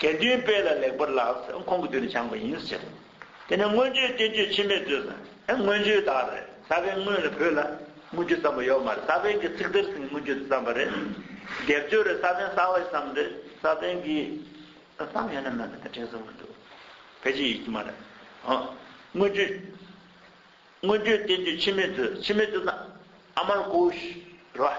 དགེ་འདུན་དཔལ་ལ་ལེགས་པར་ལགས་ཟེར་ཁོང་གི་དུས་ནས་སྦྱངས་པ་ཡིན་ཟེར། དེ་ནས་མངོན་བརྗོད་བསྟན་བཅོས་འཆི་མེད་མཛོད་ཟེར། ཨེ་མངོན་བརྗོད་དག་རེད་ས་པན་དངོས་ལ་བོད་ལ་མངོན་བརྗོད་བརྩམས་པ་ཡོད་མ་རེད་ས་པན་གྱི་ཚིག་དེར་ཟིན་མངོན་བརྗོད་དུ་བརྩམས་པ་རེད། སྡེབ་སྦྱོར་རེད་ས་པན་གསང་བ་ཞིག་བརྩམས་རེད་ས་པན་གྱི། བརྩམས་ཡོད་ནམ་མེད་མེད་ད་དྲན་སོང་མི་འདུག་ཕལ་ཆེར་ཡོད་ཀྱི་མ་རེད། མངོན་བརྗོད། མངོན་བརྗོད་བསྟན་བཅོས་འཆི་མེད་མཛོད་འཆི་མེད་མཛོད་ན་ཨ་མར་ཀོའུ་ཤི་རོ་ཨ།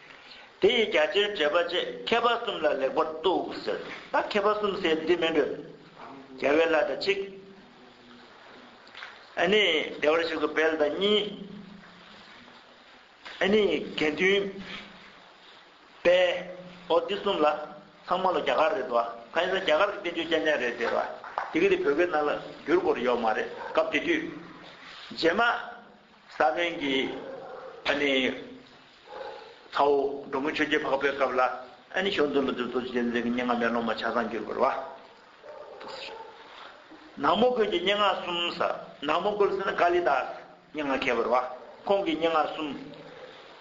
དེ་ཡི་རྒྱ་ཆེར་འགྲེལ་པ་བཅས་མཁས་པ་གསུམ་ལ་ལེགས་པར་གཏུགས་ཟེར། ད་མཁས་པ་གསུམ་ཟེར་འདི་མི་འདོད། རྒྱལ་བའི་བླ་དང་གཅིག། ཨ་ནི་བདེ་བར་གཤེགས་སུ་འཕེལ་དང་གཉིས། ཨ་ནི་དགེ་འདུན། པའོ། འདི་གསུམ་ལ་ཚང་མ་ལོ་རྒྱ་གར་རེད་བ། ཕ་ཡིན་ས་རྒྱ་གར་གྱི་བསྟན་བཅོས་རྐྱང་རྐྱང་རེད་དེ་བ། དེ་གི་དེ་བོད་སྐད་ནང་ལ་བསྒྱུར་དགོས་རེད་ཡོག་མ་རེད་སྐབས་དེ་དུས། རྗེས་མ། ས་བོན་གྱི་ཨ་ནི། ཚ་བོ་འབྲོང་མོ་ཆོས་རྗེ་འཕགས་པའི་སྐབས་ལ་ཨ་ནི་ཞོ་འདོན་ལོ་དུས་རྡོ་རྗེ་གདན་འདྲེན་གྱི་སྙན་ངག་མེ་ལོང་མ་ཆ་ཚང་གྱུར་པར་བ། ནག་མོ་དགོན་གྱི་སྙན་ངག་གསུམ་ས་ནག་མོ་དགོན་ཟེར་ན་ཀཱ་ལི་དཱས་སྙན་ངག་མཁས་པར་བ་ཁོང་གི་སྙན་ངག་གསུམ།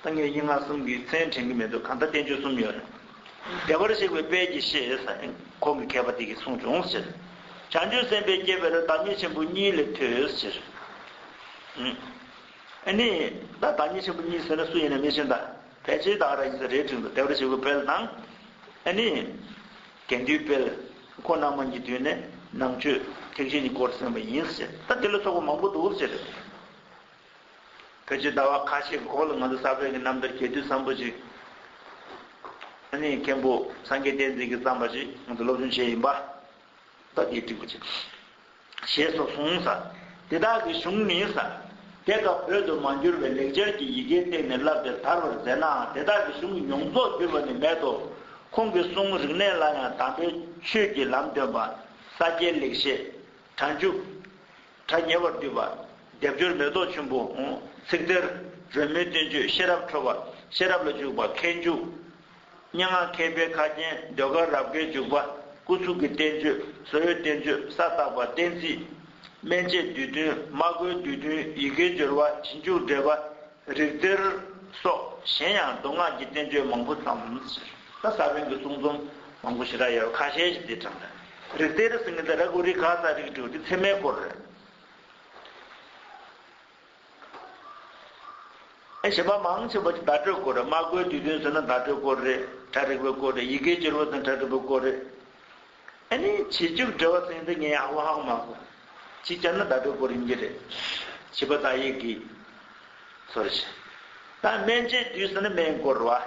ད་ངས་སྙན་ངག་གསུམ་གྱི་མཚན་དྲན་གྱི་མེད་འདུག་གང་ལྟར་བསྟན་བཅོས་གསུམ་ཡོད། བདེ་བར་གཤེགས་པའི་དཔལ་གྱིས་ཤེས། ཁོང་གི་མཁས་པ་འདི་གིས་གསུངས་བྱུང། བྱང་ཆུབ་སེམས་དཔའི་སྐྱེ་བའི་བརྡ་མེད་ཆེན་པོ་གཉིས་ལས་ཐོས། ནི། བདག་ཉིད་ཆེན་པོ་གཉིས་ཟེར་ན་སུ་ཡིན་ནས་མི་ཤེས་དང། ཕལ་ཆེར་བདག་ར་ཡིན་ཟེར་རེ་འཁྲིག་འདུག་དེ་བར་བྱེད་པོའི་དཔལ་དང། ནི། དགེ་འདུན་དཔལ། ཁོ་རྣམས་མ་གཉིས་བསྡུས་ནས་ནང་ཆོས་ཐེག་ཆེན་གྱི་སྐོར་གསན་པ་ཡིན་ཟེར་ད་དེ་ལ་སོགས་པ་མང་པོ་འདུག་ཟེར། ཕལ་ཆེར་ཟླ་བ་ཁ་ཤས་ཀྱི་གོང་ལ་ང་ཚོ་ས་བོན་གྱི་རྣམ་ཐར་གྱེས་དུས་བཟང་པོ་ཅིག། ནི། མཁན་པོ་སངས་རྒྱས་བསྟན་འཛིན་གྱིས་བརྩམས་པ་ཞིག་ང་ཚོས་སློབ་སྦྱོང་བྱས་ཡིན་པ། ད་དེའི་སྒྲིག་པ་བྱེད། ཞེས་སོགས་གསུངས། ས་དེ་དག་གི་གཞུང་ནི་ས་དེ་དག་བོད་དུ་མ་འགྱུར་བའི་ལེགས་སྦྱར་གྱི་ཡི་གེའི་སྟེང་ནས་བསླབ་དེར་དར་བར་མཛད་ནའང་དེ་དག་གི་གཞུང་གི་མྱོང་རྫོགས་བསྒྱུར་བ་ནི་མེད་དོ། ཁོང་གི་གསུང་རིག་གནས་ལ་ཡང་དམ་པའི་ཆོས་ཀྱི་ལམ་སྟོན་པ། ས་སྐྱའི་ལེགས་བཤད། གྲྭ་མཇུག། གྲྭ་ཉེ་བར་འདུས་པ། སྡེབ་སྦྱོར་མེ་ཏོག་ཆུན་པོ། ཚིག་གཏེར། རོལ་མོའི་བསྟན་བཅོས་ཤེས་རབ་འཕྲོ་བ། ཤེས་རབ་ལ་འཇུག་པ་མཁས་འཇུག། སྙན་ངག་མཁས་པའི་ཁ་རྒྱན་ཟློས་གར་རབ་དགའི་འཇུག་པ་སྐུ་གཟུགས་ཀྱི་བསྟན་བཅོས་གཟོ་ཡོད་བསྟན་བཅོས་ས་བརྟག་པ་བསྟན་རྩིས། སྨན་དཔྱད་བསྡུས་དོན་སྨྲ་སྒོའི་བསྡུས་དོན་ཡི་གེའི་སྦྱོར་བ་བྱིན་ཆུག་འགྲེལ་པ་རིག་གཏེར། སོགས་གཞན་ཡང་མདོ་སྔགས་ཀྱི་བསྟན་བཅོས་མང་པོ་བརྩམས། ད་ས་བོན་གྱི་གསུང་རྩོམ་མང་པོ་ཞེ་དྲག་ཡོད་པ་ཁ་ཤས་ཤིག་འདིར་དྲངས་ལ། རིག་གཏེར་ཟིན་ངེ་ད་ར་གུ་རི་གྷ་ས་རིགས་དྲུག་འདི་ཚད་མའི་སྐོར་རེད། བྱེད་པ་མང་ཆེ་བ་བརྡ་སྤྲོད་སྐོར་རེད་སྨྲ་སྒོའི་དུས་སྟོན་ཟེར་ན་བརྡ་སྤྲོད་སྐོར་རེད་གྲ་སྒྲིག་པའི་སྐོར་རེད་ཡི་གེ་བསྒྱུར་བ་དང་གྲ་སྒྲིག་པའི་སྐོར་རེད། ཨ་ནི་བྱེད་རྒྱུགས་འབྲེལ་བ་ཚིག་འདི་ངས་ཧ་གོ་ཧ་གོ་མ་གོ། ཅིག་བསྐྱར་ན་བརྡ་སྤྲོད་སྐོར་ཡིན་གྱི་རེད། བྱིས་པ་དག་ཡིག་གིས། ཚོར་བྱེད། ད་སྨན་བཅོས་དུས་ཟེར་ན་སྨན་སྐོར་རེད།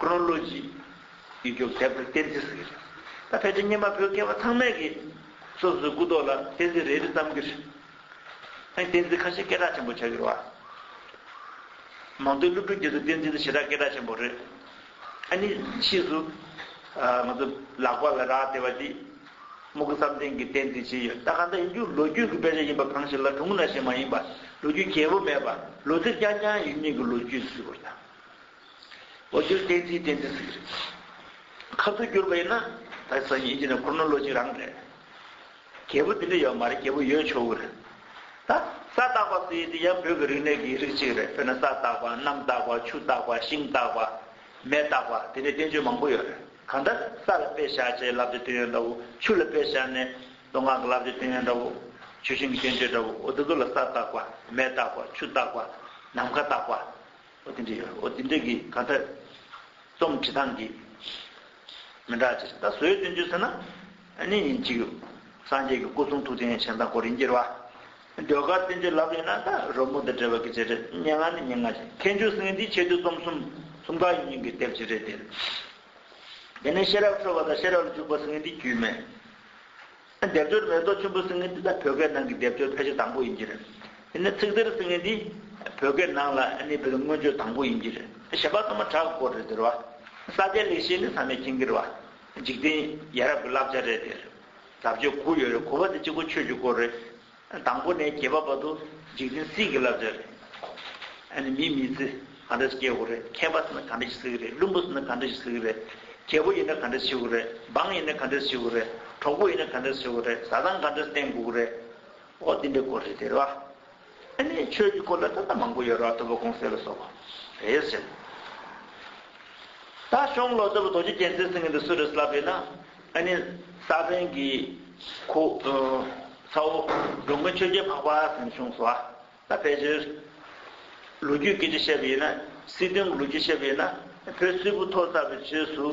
Chronology། ཡིག་རྒྱུགས་ཟད་པར་བསྟན་རྩིས་ཟེར། ད་ཕལ་ཆེར་སྙེ་མ་བོད་སྐད་བ་ཚང་མས་ཀྱི། སོ་སོའི་སྐུ་ཐོག་ལ་བསྟན་རྩིས་རེ་རེ་བརྩམ་གྱི་རེད། ཨང་བསྟན་རྩིས་ཁ་ཤས་སྐད་གྲགས་ཆེན་པོ་ཆགས་ཡོད་བ། མང་ཐོས་སློབ་ཕྲུག་རྒྱུད་དུ་བསྟན་རྩིས་ནི་ཞེ་དྲག་སྐད་གྲགས་ཆེན་པོ་རེད། ཨ་ནི་ཕྱིས་སུ། ང་ཚོ་ལག་པ་ལ་རག་བལྟས་བ་དེས། རྨུ་གུ་བསམ་གཏན་གྱིས་བསྟན་རྩིས་བྱས་ཡོད་ད་གང་ལྟར་ཡིག་རྒྱུགས་ལོ་རྒྱུས་ཀྱི་དཔེ་ཆ་ཡིན་པ་གང་ཞིག་ལ་དྲུང་ན་ཞིག་མ་ཡིན་པ་ལོ་རྒྱུས་རྒྱས་པོ་མེད་པ་ལོ་ཚིགས་རྐྱང་རྐྱང་ཡིན་མིན་གྱི་ལོ་རྒྱུས་སུ་ཟེར་བ་དང། ལོ་རྒྱུས་བསྟན་རྩིས་བསྟན་རྩིས་ཟིག་རེད། ཁ་ཐུག་བསྐྱུར་པ་ཡིན་ན་ད་ས་ཉིན་གྱི་ནས་ཁུར་ནོ་ལོ་གཅིག་རང་རེད། རྒྱལ་བུ་འདི་འདྲ་ཡོད་མ་རེད་རྒྱལ་བུ་ཡོད་ཆོག་གི་རེད། ད་ས་བརྟག་པ་ཟེར་དེ་ཡང་བོད་ཀྱི་རིག་གནས་ཀྱི་རིགས་གཅིག་རེད་དཔེར་ན་ས་བརྟག་པ་གནམ་བརྟག་པ་ཆུ་བརྟག་པ་ཤིང་བརྟག་པ། མེ་བརྟག་པ་དེ་འདྲའི་བསྟན་བཅོས་མང་པོ་ཡོད་རེད་གང་ལྟར་ས་ལ་དཔེ་བཞག་ཅེས་ལབ་ཏེ་སྟོན་ཡོད་འདྲ་བོ་ཆུ་ལ་དཔེ་བཞག་ནས་མདོ་སྔགས་ཀྱི་ལབ་ཏེ་སྟོན་ཡོད་འདྲ་བོ། ཆུ་ཤིང་གི་བསྟན་བཅོས་འདྲ་བོ་འོ་དེ་ཚོ་ལ་ས་བརྟག་པ་མེ་བརྟག་པ་ཆུ་བརྟག་པ་ནམ་མཁའ་བརྟག་པ། ཨོ་དེ་འདྲའི་ཨོ་དེ་འདྲའི་གི་གང་ཐད་རྩོམ་འབྲི་སྟངས་ཀྱི་མི་འདྲ་ཅི་ཟེར་ད་གཟོད་སྟོན་རྒྱུ་ཟེར་ན་ནི་ཉིན་གཅིག་སངས་རྒྱས་ཀྱི་སྐུ་གསུང་ཐུགས་རྟེན་བྱིན་དང་སྐོར་ཡིན་གྱི་རེད་བ། ཟློས་གར་བསྟན་བཅོས་ལབ་ཡོད་ན་ད་རོལ་མོ་དང་འབྲེལ་བ་གི་བྱས་རེད་སྙན་ངག་ནི་སྙན་ངག་ཅིག་མཁས་མཆོག་སེང་གེ་འདིའི་ཆེད་དུ་རྩོམ་གསུམ་གསུམ་ག་ཡིན་ཡིན་གྱི་དེབ་ཅིག་རེད་དེ། དེ་ནས་ཤེས་རབ་འཕྲོ་བ་དང་ཤེས་རབ་ལ་འཇུག་པ་སེང་གེ་འདིའི་རྒྱུད་སྨད། སྡེབ་སྦྱོར་མེ་ཏོག་ཆུན་པོ་སྲི་ངན་འདི་དག་བོད་སྐད་ནང་གི་སྡེབ་སྦྱོར་ཕལ་ཆེར་དང་པོ་ཡིན་གྱི་རེད། ཡིན་ན་ཚིག་དེར་སྲི་ངན་འདི་བོད་སྐད་ནང་ལ་ནི་བོད་མངོན་བརྗོད་དང་པོ་ཡིན་གྱི་རེད། ཞེས་པ་ཚང་མ་བྲག་བསྐོར་རེད་ཟེར་བ། ས་སྐྱའི་ལེགས་བཤད་ནི་ཚང་མས་མཁྱེན་གིར་བ། འཇིག་རྟེན་ཡ་རབས་ཀྱི་བསླབ་བྱ་རེད་ཟེར། ཟབ་ཆོས་གུ་ཡོད་རེད་གུ་བ་འདི་གཅིག་པོ་ཆོས་ཀྱི་སྐོར་རེད། དང་པོ་ནས་གྱེས་པ་བར་དུ་འཇིག་རྟེན་བསིལ་གྱིས་ལ་བཟོས་རེད། ཨ་ནི་མིས་མི་ཚེ་ག་འདྲ་ཞིག་སྐྱེལ་དགོས་རེད་མཁས་པ་ཟེར་ན་ག་འདྲ་ཞིག་ཟེར་གྱི་རེད་བླུན་པོ་ཟེར་ན་ག་འདྲ་ཞིག་ཟེར་གྱི་རེད་རྒྱལ་པོ་ཡིན་ན་ག་འདྲ་ཞིག་བྱེད་དགོས་རེད་འབངས་ཡིན་ན་ག་འདྲ་ཞིག་བྱེད་དགོས་རེད་གྲོགས་པོ་ཡིན་ན་ག་འདྲ་ཞིག་བྱེད་དགོས་རེད་བཟའ་ཚང་ག་འདྲ་ཞིག་བསྟེན་དགོས་ཀྱི་རེད་འོ་འདི་འདྲའི་སྐོར་རེད་ཟེར་བ། ཨ་ནི་ཆོས་ཀྱི་སྐོར་ལ་ད་ལྟ་མང་པོ་ཡོད་རོགས་ཐུབ་པ་གོང་གསལ་ལ་སོགས་པ་རེད་ཟེར། ད་གཞོངས་ལོ་ཙཱ་བ་རྡོ་རྗེ་རྒྱལ་མཚན་ཟེར་མཁན་དེ་སུ་རེད་ལབ་ཡོད་ན། ཨ་ནི་ས་བོན་གྱི་ཁུ། ཚ་བོ་འབྲུག་མོའི་ཆོས་རྒྱལ་འཕགས་པ་ཟིན་བྱུང་སོགས་ལ་ཕལ་ཆེར། ལོ་རྒྱུས་སྐད་ཆ་བཤད་པ་ཡིན་ན་སྲིད་དོན་ལོ་རྒྱུས་བཤད་པ་ཡིན་ན་བོད་སིལ་བུ་ཐོག་ཚ་བའི་ཆོས་སུ།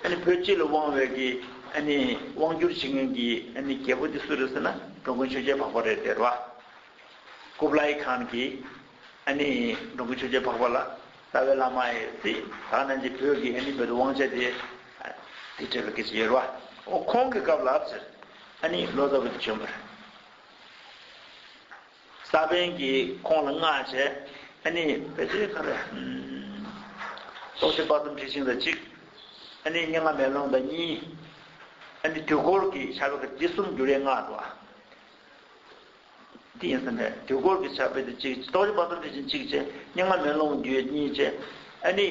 ཨ་ནི་བོད་སྤྱི་ལ་དབང་བའི་གི་ཨ་ནི་དབང་བསྒྱུར་བྱེད་མཁན་གྱི་ཨ་ནི་རྒྱལ་པོ་དེ་སུ་རེད་ཟེར་ན་འབྲུག་མོའི་ཆོས་རྒྱལ་འཕགས་པ་རེད་ཟེར་བ། ཀུབ་ལའི་ཁཱན་གྱི། ཨ་ནི་འབྲོང་གི་ཆོས་རྒྱལ་འཕགས་པ་ལ་ལྟ་བའི་བླ་མ་ཡི་ཏི་དག་རྣམས་ཀྱིས་བོད་ཀྱི་ཨ་ནི་བོད་དུ་དབང་ཆ་དེ་དེ་སྤྲད་པའི་སྐད་ཆ་ཡོད་རེད་བ། འོ་ཁོང་གི་སྐབས་ལབ་ཟེར། ཨ་ནི་ལོ་ཙཱ་བ་དེ་བྱོན་པ་རེད། ས་པན་གྱིས་ཁོང་ལ་མངགས་བྱས། ཨ་ནི་བོད་དོན་ཁ་རེད། ཏོག་ཙེ་སྤ་ཙུམ་ཁྲི་ཆིང་དང་གཅིག། ཨ་ནི་སྙན་ངག་མེ་ལོང་དང་གཉིས། ཨ་ནི་དུས་འཁོར་གྱི་ཆ་བེ་ཀ་དེ་གསུམ་འགྱུར་ཡས་མངགས་འགྲོ་བ། དེ་ཡིན་ཟིན་པས་དུས་འཁོར་གྱི་ཆ་དཔེ་དེ་གཅིག། རྟོགས་བྱེད་དཔག་བསམ་དེ་བཞིན་གཅིག་ཅེས། རྙིང་མ་མེ་ལོང་རྒྱུད་གཉིས་ཅེས། ཨ་ནི།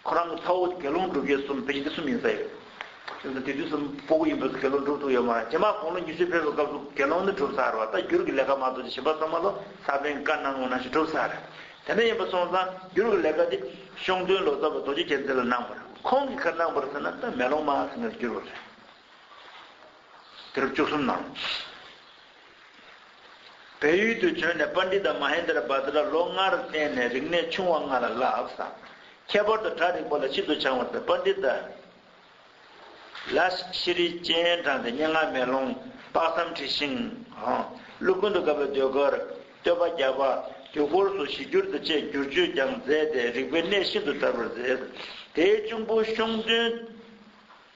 ཁོ་རང་གི་ཚ་བོ་དགེ་སློང་སྒྲུབ་ཡུལ་གསུམ་དཔེ་ཆ་འདི་གསུམ་ཡིན་ཟེར་ཡོད། དེ་དུས་སུ་པོ་པོ་ཡིན་པའི་དགེ་སློང་སྒྲུབ་ཐུག་ཡོད་མ་རེད། རྗེས་མར་དགུང་ལོ་ཉི་ཤུ་ཕེབས་པའི་སྐབས་སུ་དགེ་སློང་ནི་གྲུབ་ཚར་བ་ལྟ་འགྱུར་གྱི་ལས་ཀ་མ་རྫོགས་ཀྱི་ཞིམ་པ་ཟ་མ་ལོ་སར་ཕན་དཀའ་སྣང་ངོ་ནང་བཞིན་གྲུབ་ཚར། དེ་འདྲ་ཡིན་པ་སོང་ཙང་འགྱུར་གྱི་ལས་ཀ་དེ་ཤོང་སྟོན་ལོ་ཙཱ་བ་རྡོ་རྗེ་མཁྱེན་བརྩེ་ལ་གནང་བར་ཁོང་གིས་ཁར་གནང་བར་ཟེར་ན་ད་མེ་ལོང་མ་ཟེར་ནས་འགྱུར་བ་རེད། དེ་རུ་བཅུ་གསུམ་ནང། བལ་ཡུལ་དུ་བྱོན་ནས་པཱ་ནྟི་ད་མ་ཧེན་དར་བྷ་དྲ་ལོ་ལྔར་བསྟེན་ནས་རིག་གནས་ཆུང་བ་ལྔ་ལ་བསླབས། ཁྱད་པར་དུ་གྲྭ་རིག་པ་ལ་ཤིན་ཏུ་བྱང་བར་ཐལ་པཱ་ནྟི་ད་ལས་ཤེས་རིག་སྤྱན་དྲངས་ཏེ་སྙན་ངག་མེ་ལོང་དཔག་བསམ་འཁྲི་ཤིང། ཀླུ་ཀུན་ཏུ་དགའ་བའི་ཟློས་གར། བསྟོད་པ་བརྒྱ་པ། དུས་འཁོར་སོགས་ཞི་འགྱུར་དུ་བཅས་བསྒྱུར་བཅོས་ཀྱང་མཛད་དེ་རིག་པའི་གནས་ཤིན་ཏུ་དར་བར་མཛད། དེའི་གཅུང་པོ་གཤོང་སྟོན།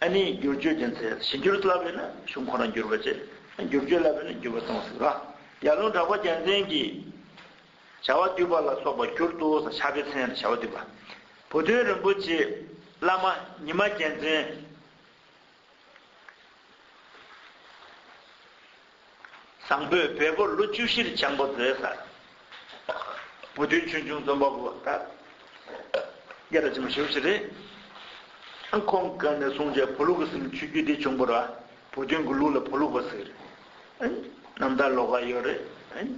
ཨ་ནི་བསྒྱུར་བཅོས་བྱས་ཚེ་གཞི་འགྱུར་སླ་བས་ན་གཞུང་ཁོ་ན་འགྱུར་བ་བྱེད། བསྒྱུར་བཅོས་སླ་བས་ན་འགྱུར་བ་གཏོང་སྲིད། ཡར་ལུང་གྲགས་པ་རྒྱལ་མཚན་གྱིས། བྱ་བ་བསྡུས་པ་ལ་སོགས་པ་བསྒྱུར་ཏོ་ཟེར་ཕྱག་དཔེ་ཚན་རེ་བྱ་བ་བསྡུས་པ། བུ་སྟོན་རིན་པོ་ཆེས་བླ་མ་ཉི་མ་རྒྱལ་མཚན། བཟང་པོའི་བལ་པོ་ལོ་བཅུ་བཞིར་བྱང་པོ་མཛོད་ས། བུ་སྟོན་ཆོས་འབྱུང་རྩོམ་པ་པོ་བ་ད་རྒྱ་ར་ཅི་མ་ཞུ་ཞེས་རེད། ཁོང་གི་ནས་གསུངས་བྱས་བུ་ལུག་གི་སེམས་ཆུ་རྒྱུས་དེ་བྱུང་པོ་ར་བུ་སྟོན་གི་ལུག་ལ་བུ་ལུག་པ་ཟེར། རྣམ་ཐར་ལོག་ཀ་ཡོད་རེད།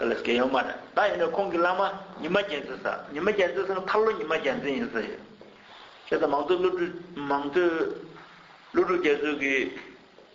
ལས་སྐལ་ཡོད་མ་རེད་ད་ཡིན་ན་ཁོང་གི་བླ་མ་ཉི་མ་རྒྱལ་མཚན་ས་ཉི་མ་རྒྱལ་མཚན་ཟེར་ན་ཐར་ལོ་ཉི་མ་རྒྱལ་མཚན་ཡིན་ས་ཡོད། ཁྱེད་ད་མང་ཚོད་བློ་གྲོས་མང་ཚོད་བློ་གྲོས་རྒྱལ་མཚོས་གི།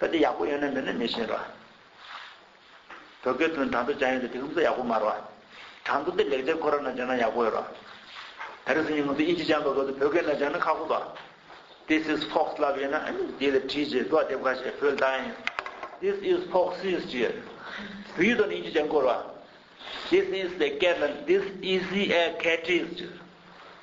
ད་དེ་ཡག་པོ་ཡོད་ནི་མེད་ནི་མི་ཤེས་རོ། བོད་སྐད་དུ་ནི་དྲ་མདོ་བྱ་ཡོན་ཏེ་དེ་ཧུམ་ས་ཡག་པོ་མ་རོ། དྲ་མདོ་འདི་ལེགས་ཆ་ཁོ་ར་ན་སྦྱོང་ན་ཡག་པོ་ཡོད་རོ། ད་རེས་ཉིན་ངོ་ཚོས་དབྱིན་ཇི་སྦྱང་པའི་སྐབས་དུ་བོད་སྐད་ན་སྦྱང་ན་ཁག་པོ་དོ། This is Fox ལབ་ཡོད་ན་ཨ་མི་དེ་ལ་བྲིས་རྗེས་དོགས་འདེབས་ཁ་ཤས་བོད་ལྟ་ཡིན། This is Foxes ཅེས་ཡོད། བོད་ཡིག་དོགས་ནས་དབྱིན་ཇི་སྦྱང་དགོས་རོ། This is a cat ལ This easy a cat is ཅེས།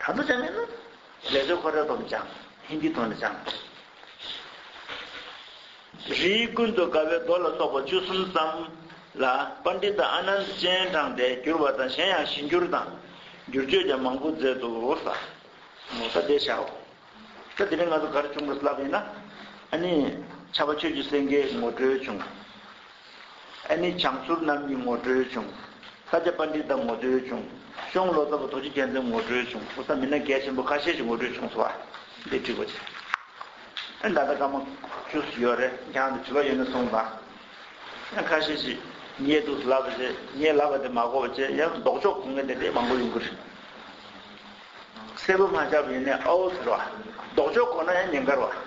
ད་དུ་ཅང་མེད་ན། ལས་བཟོའི་ཁོ་ར་དོམ་ཅང། ཧིན་དྷི་དོན་ཅང། རིའི་ཀུན་ཏུ་དགའ་བའི་མདོ་ལ་སོགས་པ་བཅུ་གསུམ་ཙམ། ལ། པནྡིཏ་ཨ་ནནྡ་སྤྱན་དྲངས་ཏེ་བསྒྱུར་བ་དང་གཞན་ཡང་ཞི་འགྱུར་དང། བསྒྱུར་བཅོས་ཀྱང་མང་པོ་མཛད་དུ་གསོལ། ངོ་ཚ་བདེ་བྱའོ། ད་དེ་རིང་ང་ཚོ་གར་བྱུང་གི་སླབས་ཡིན་ན། ཨ་ནི། ཆ་བ་ཆོས་ཀྱི་སེང་གེའི་ངོ་སྤྲོད་བྱུང། ཨ་ནི་བྱང་ཟུར་རྣམ་གཉིས་ངོ་སྤྲོད་བྱུང། ས་སྐྱ་པ་འདི་དག་ངོ་སྤྲོད་བྱུང། གཤོང་ལོ་ཙཱ་བ་རྡོ་རྗེ་རྒྱལ་མཚན་ངོ་སྤྲོད་བྱུང། ཕོ་གསར་མི་སྣ་གལ་ཆེན་པོ་ཁ་ཤས་ཤིག་ངོ་སྤྲོད་བྱུང་སོང་བ། འདི་བྲིས་པ་ཅི། ད་ལྟ་སྐར་མ་བཅུ་སུ་ཡོད་རེད་རྒྱང་དུ་བྲིས་པ་ཡོད་ན་གསུངས་དང། ཁ་ཤས་ཤིག་རྙེད་འདུག་ཟླ་བ་རྗེས་རྙེད་ལབ་པ་དེ་མ་གོ་བ་བཅས་ཡང་ལྡོག་ཕྱོགས་གོ་ངེས་དེ་འདྲའི་མང་པོ་ཡོང་གི་རེད། གསལ་པོ་མ་ཆགས་པ་ཡིན་ནའི་ཨའོ་ཟེར་བ། ལྡོག་ཕྱོགས་གོ་ན་ཡང་ཉེན་ཁར་བ།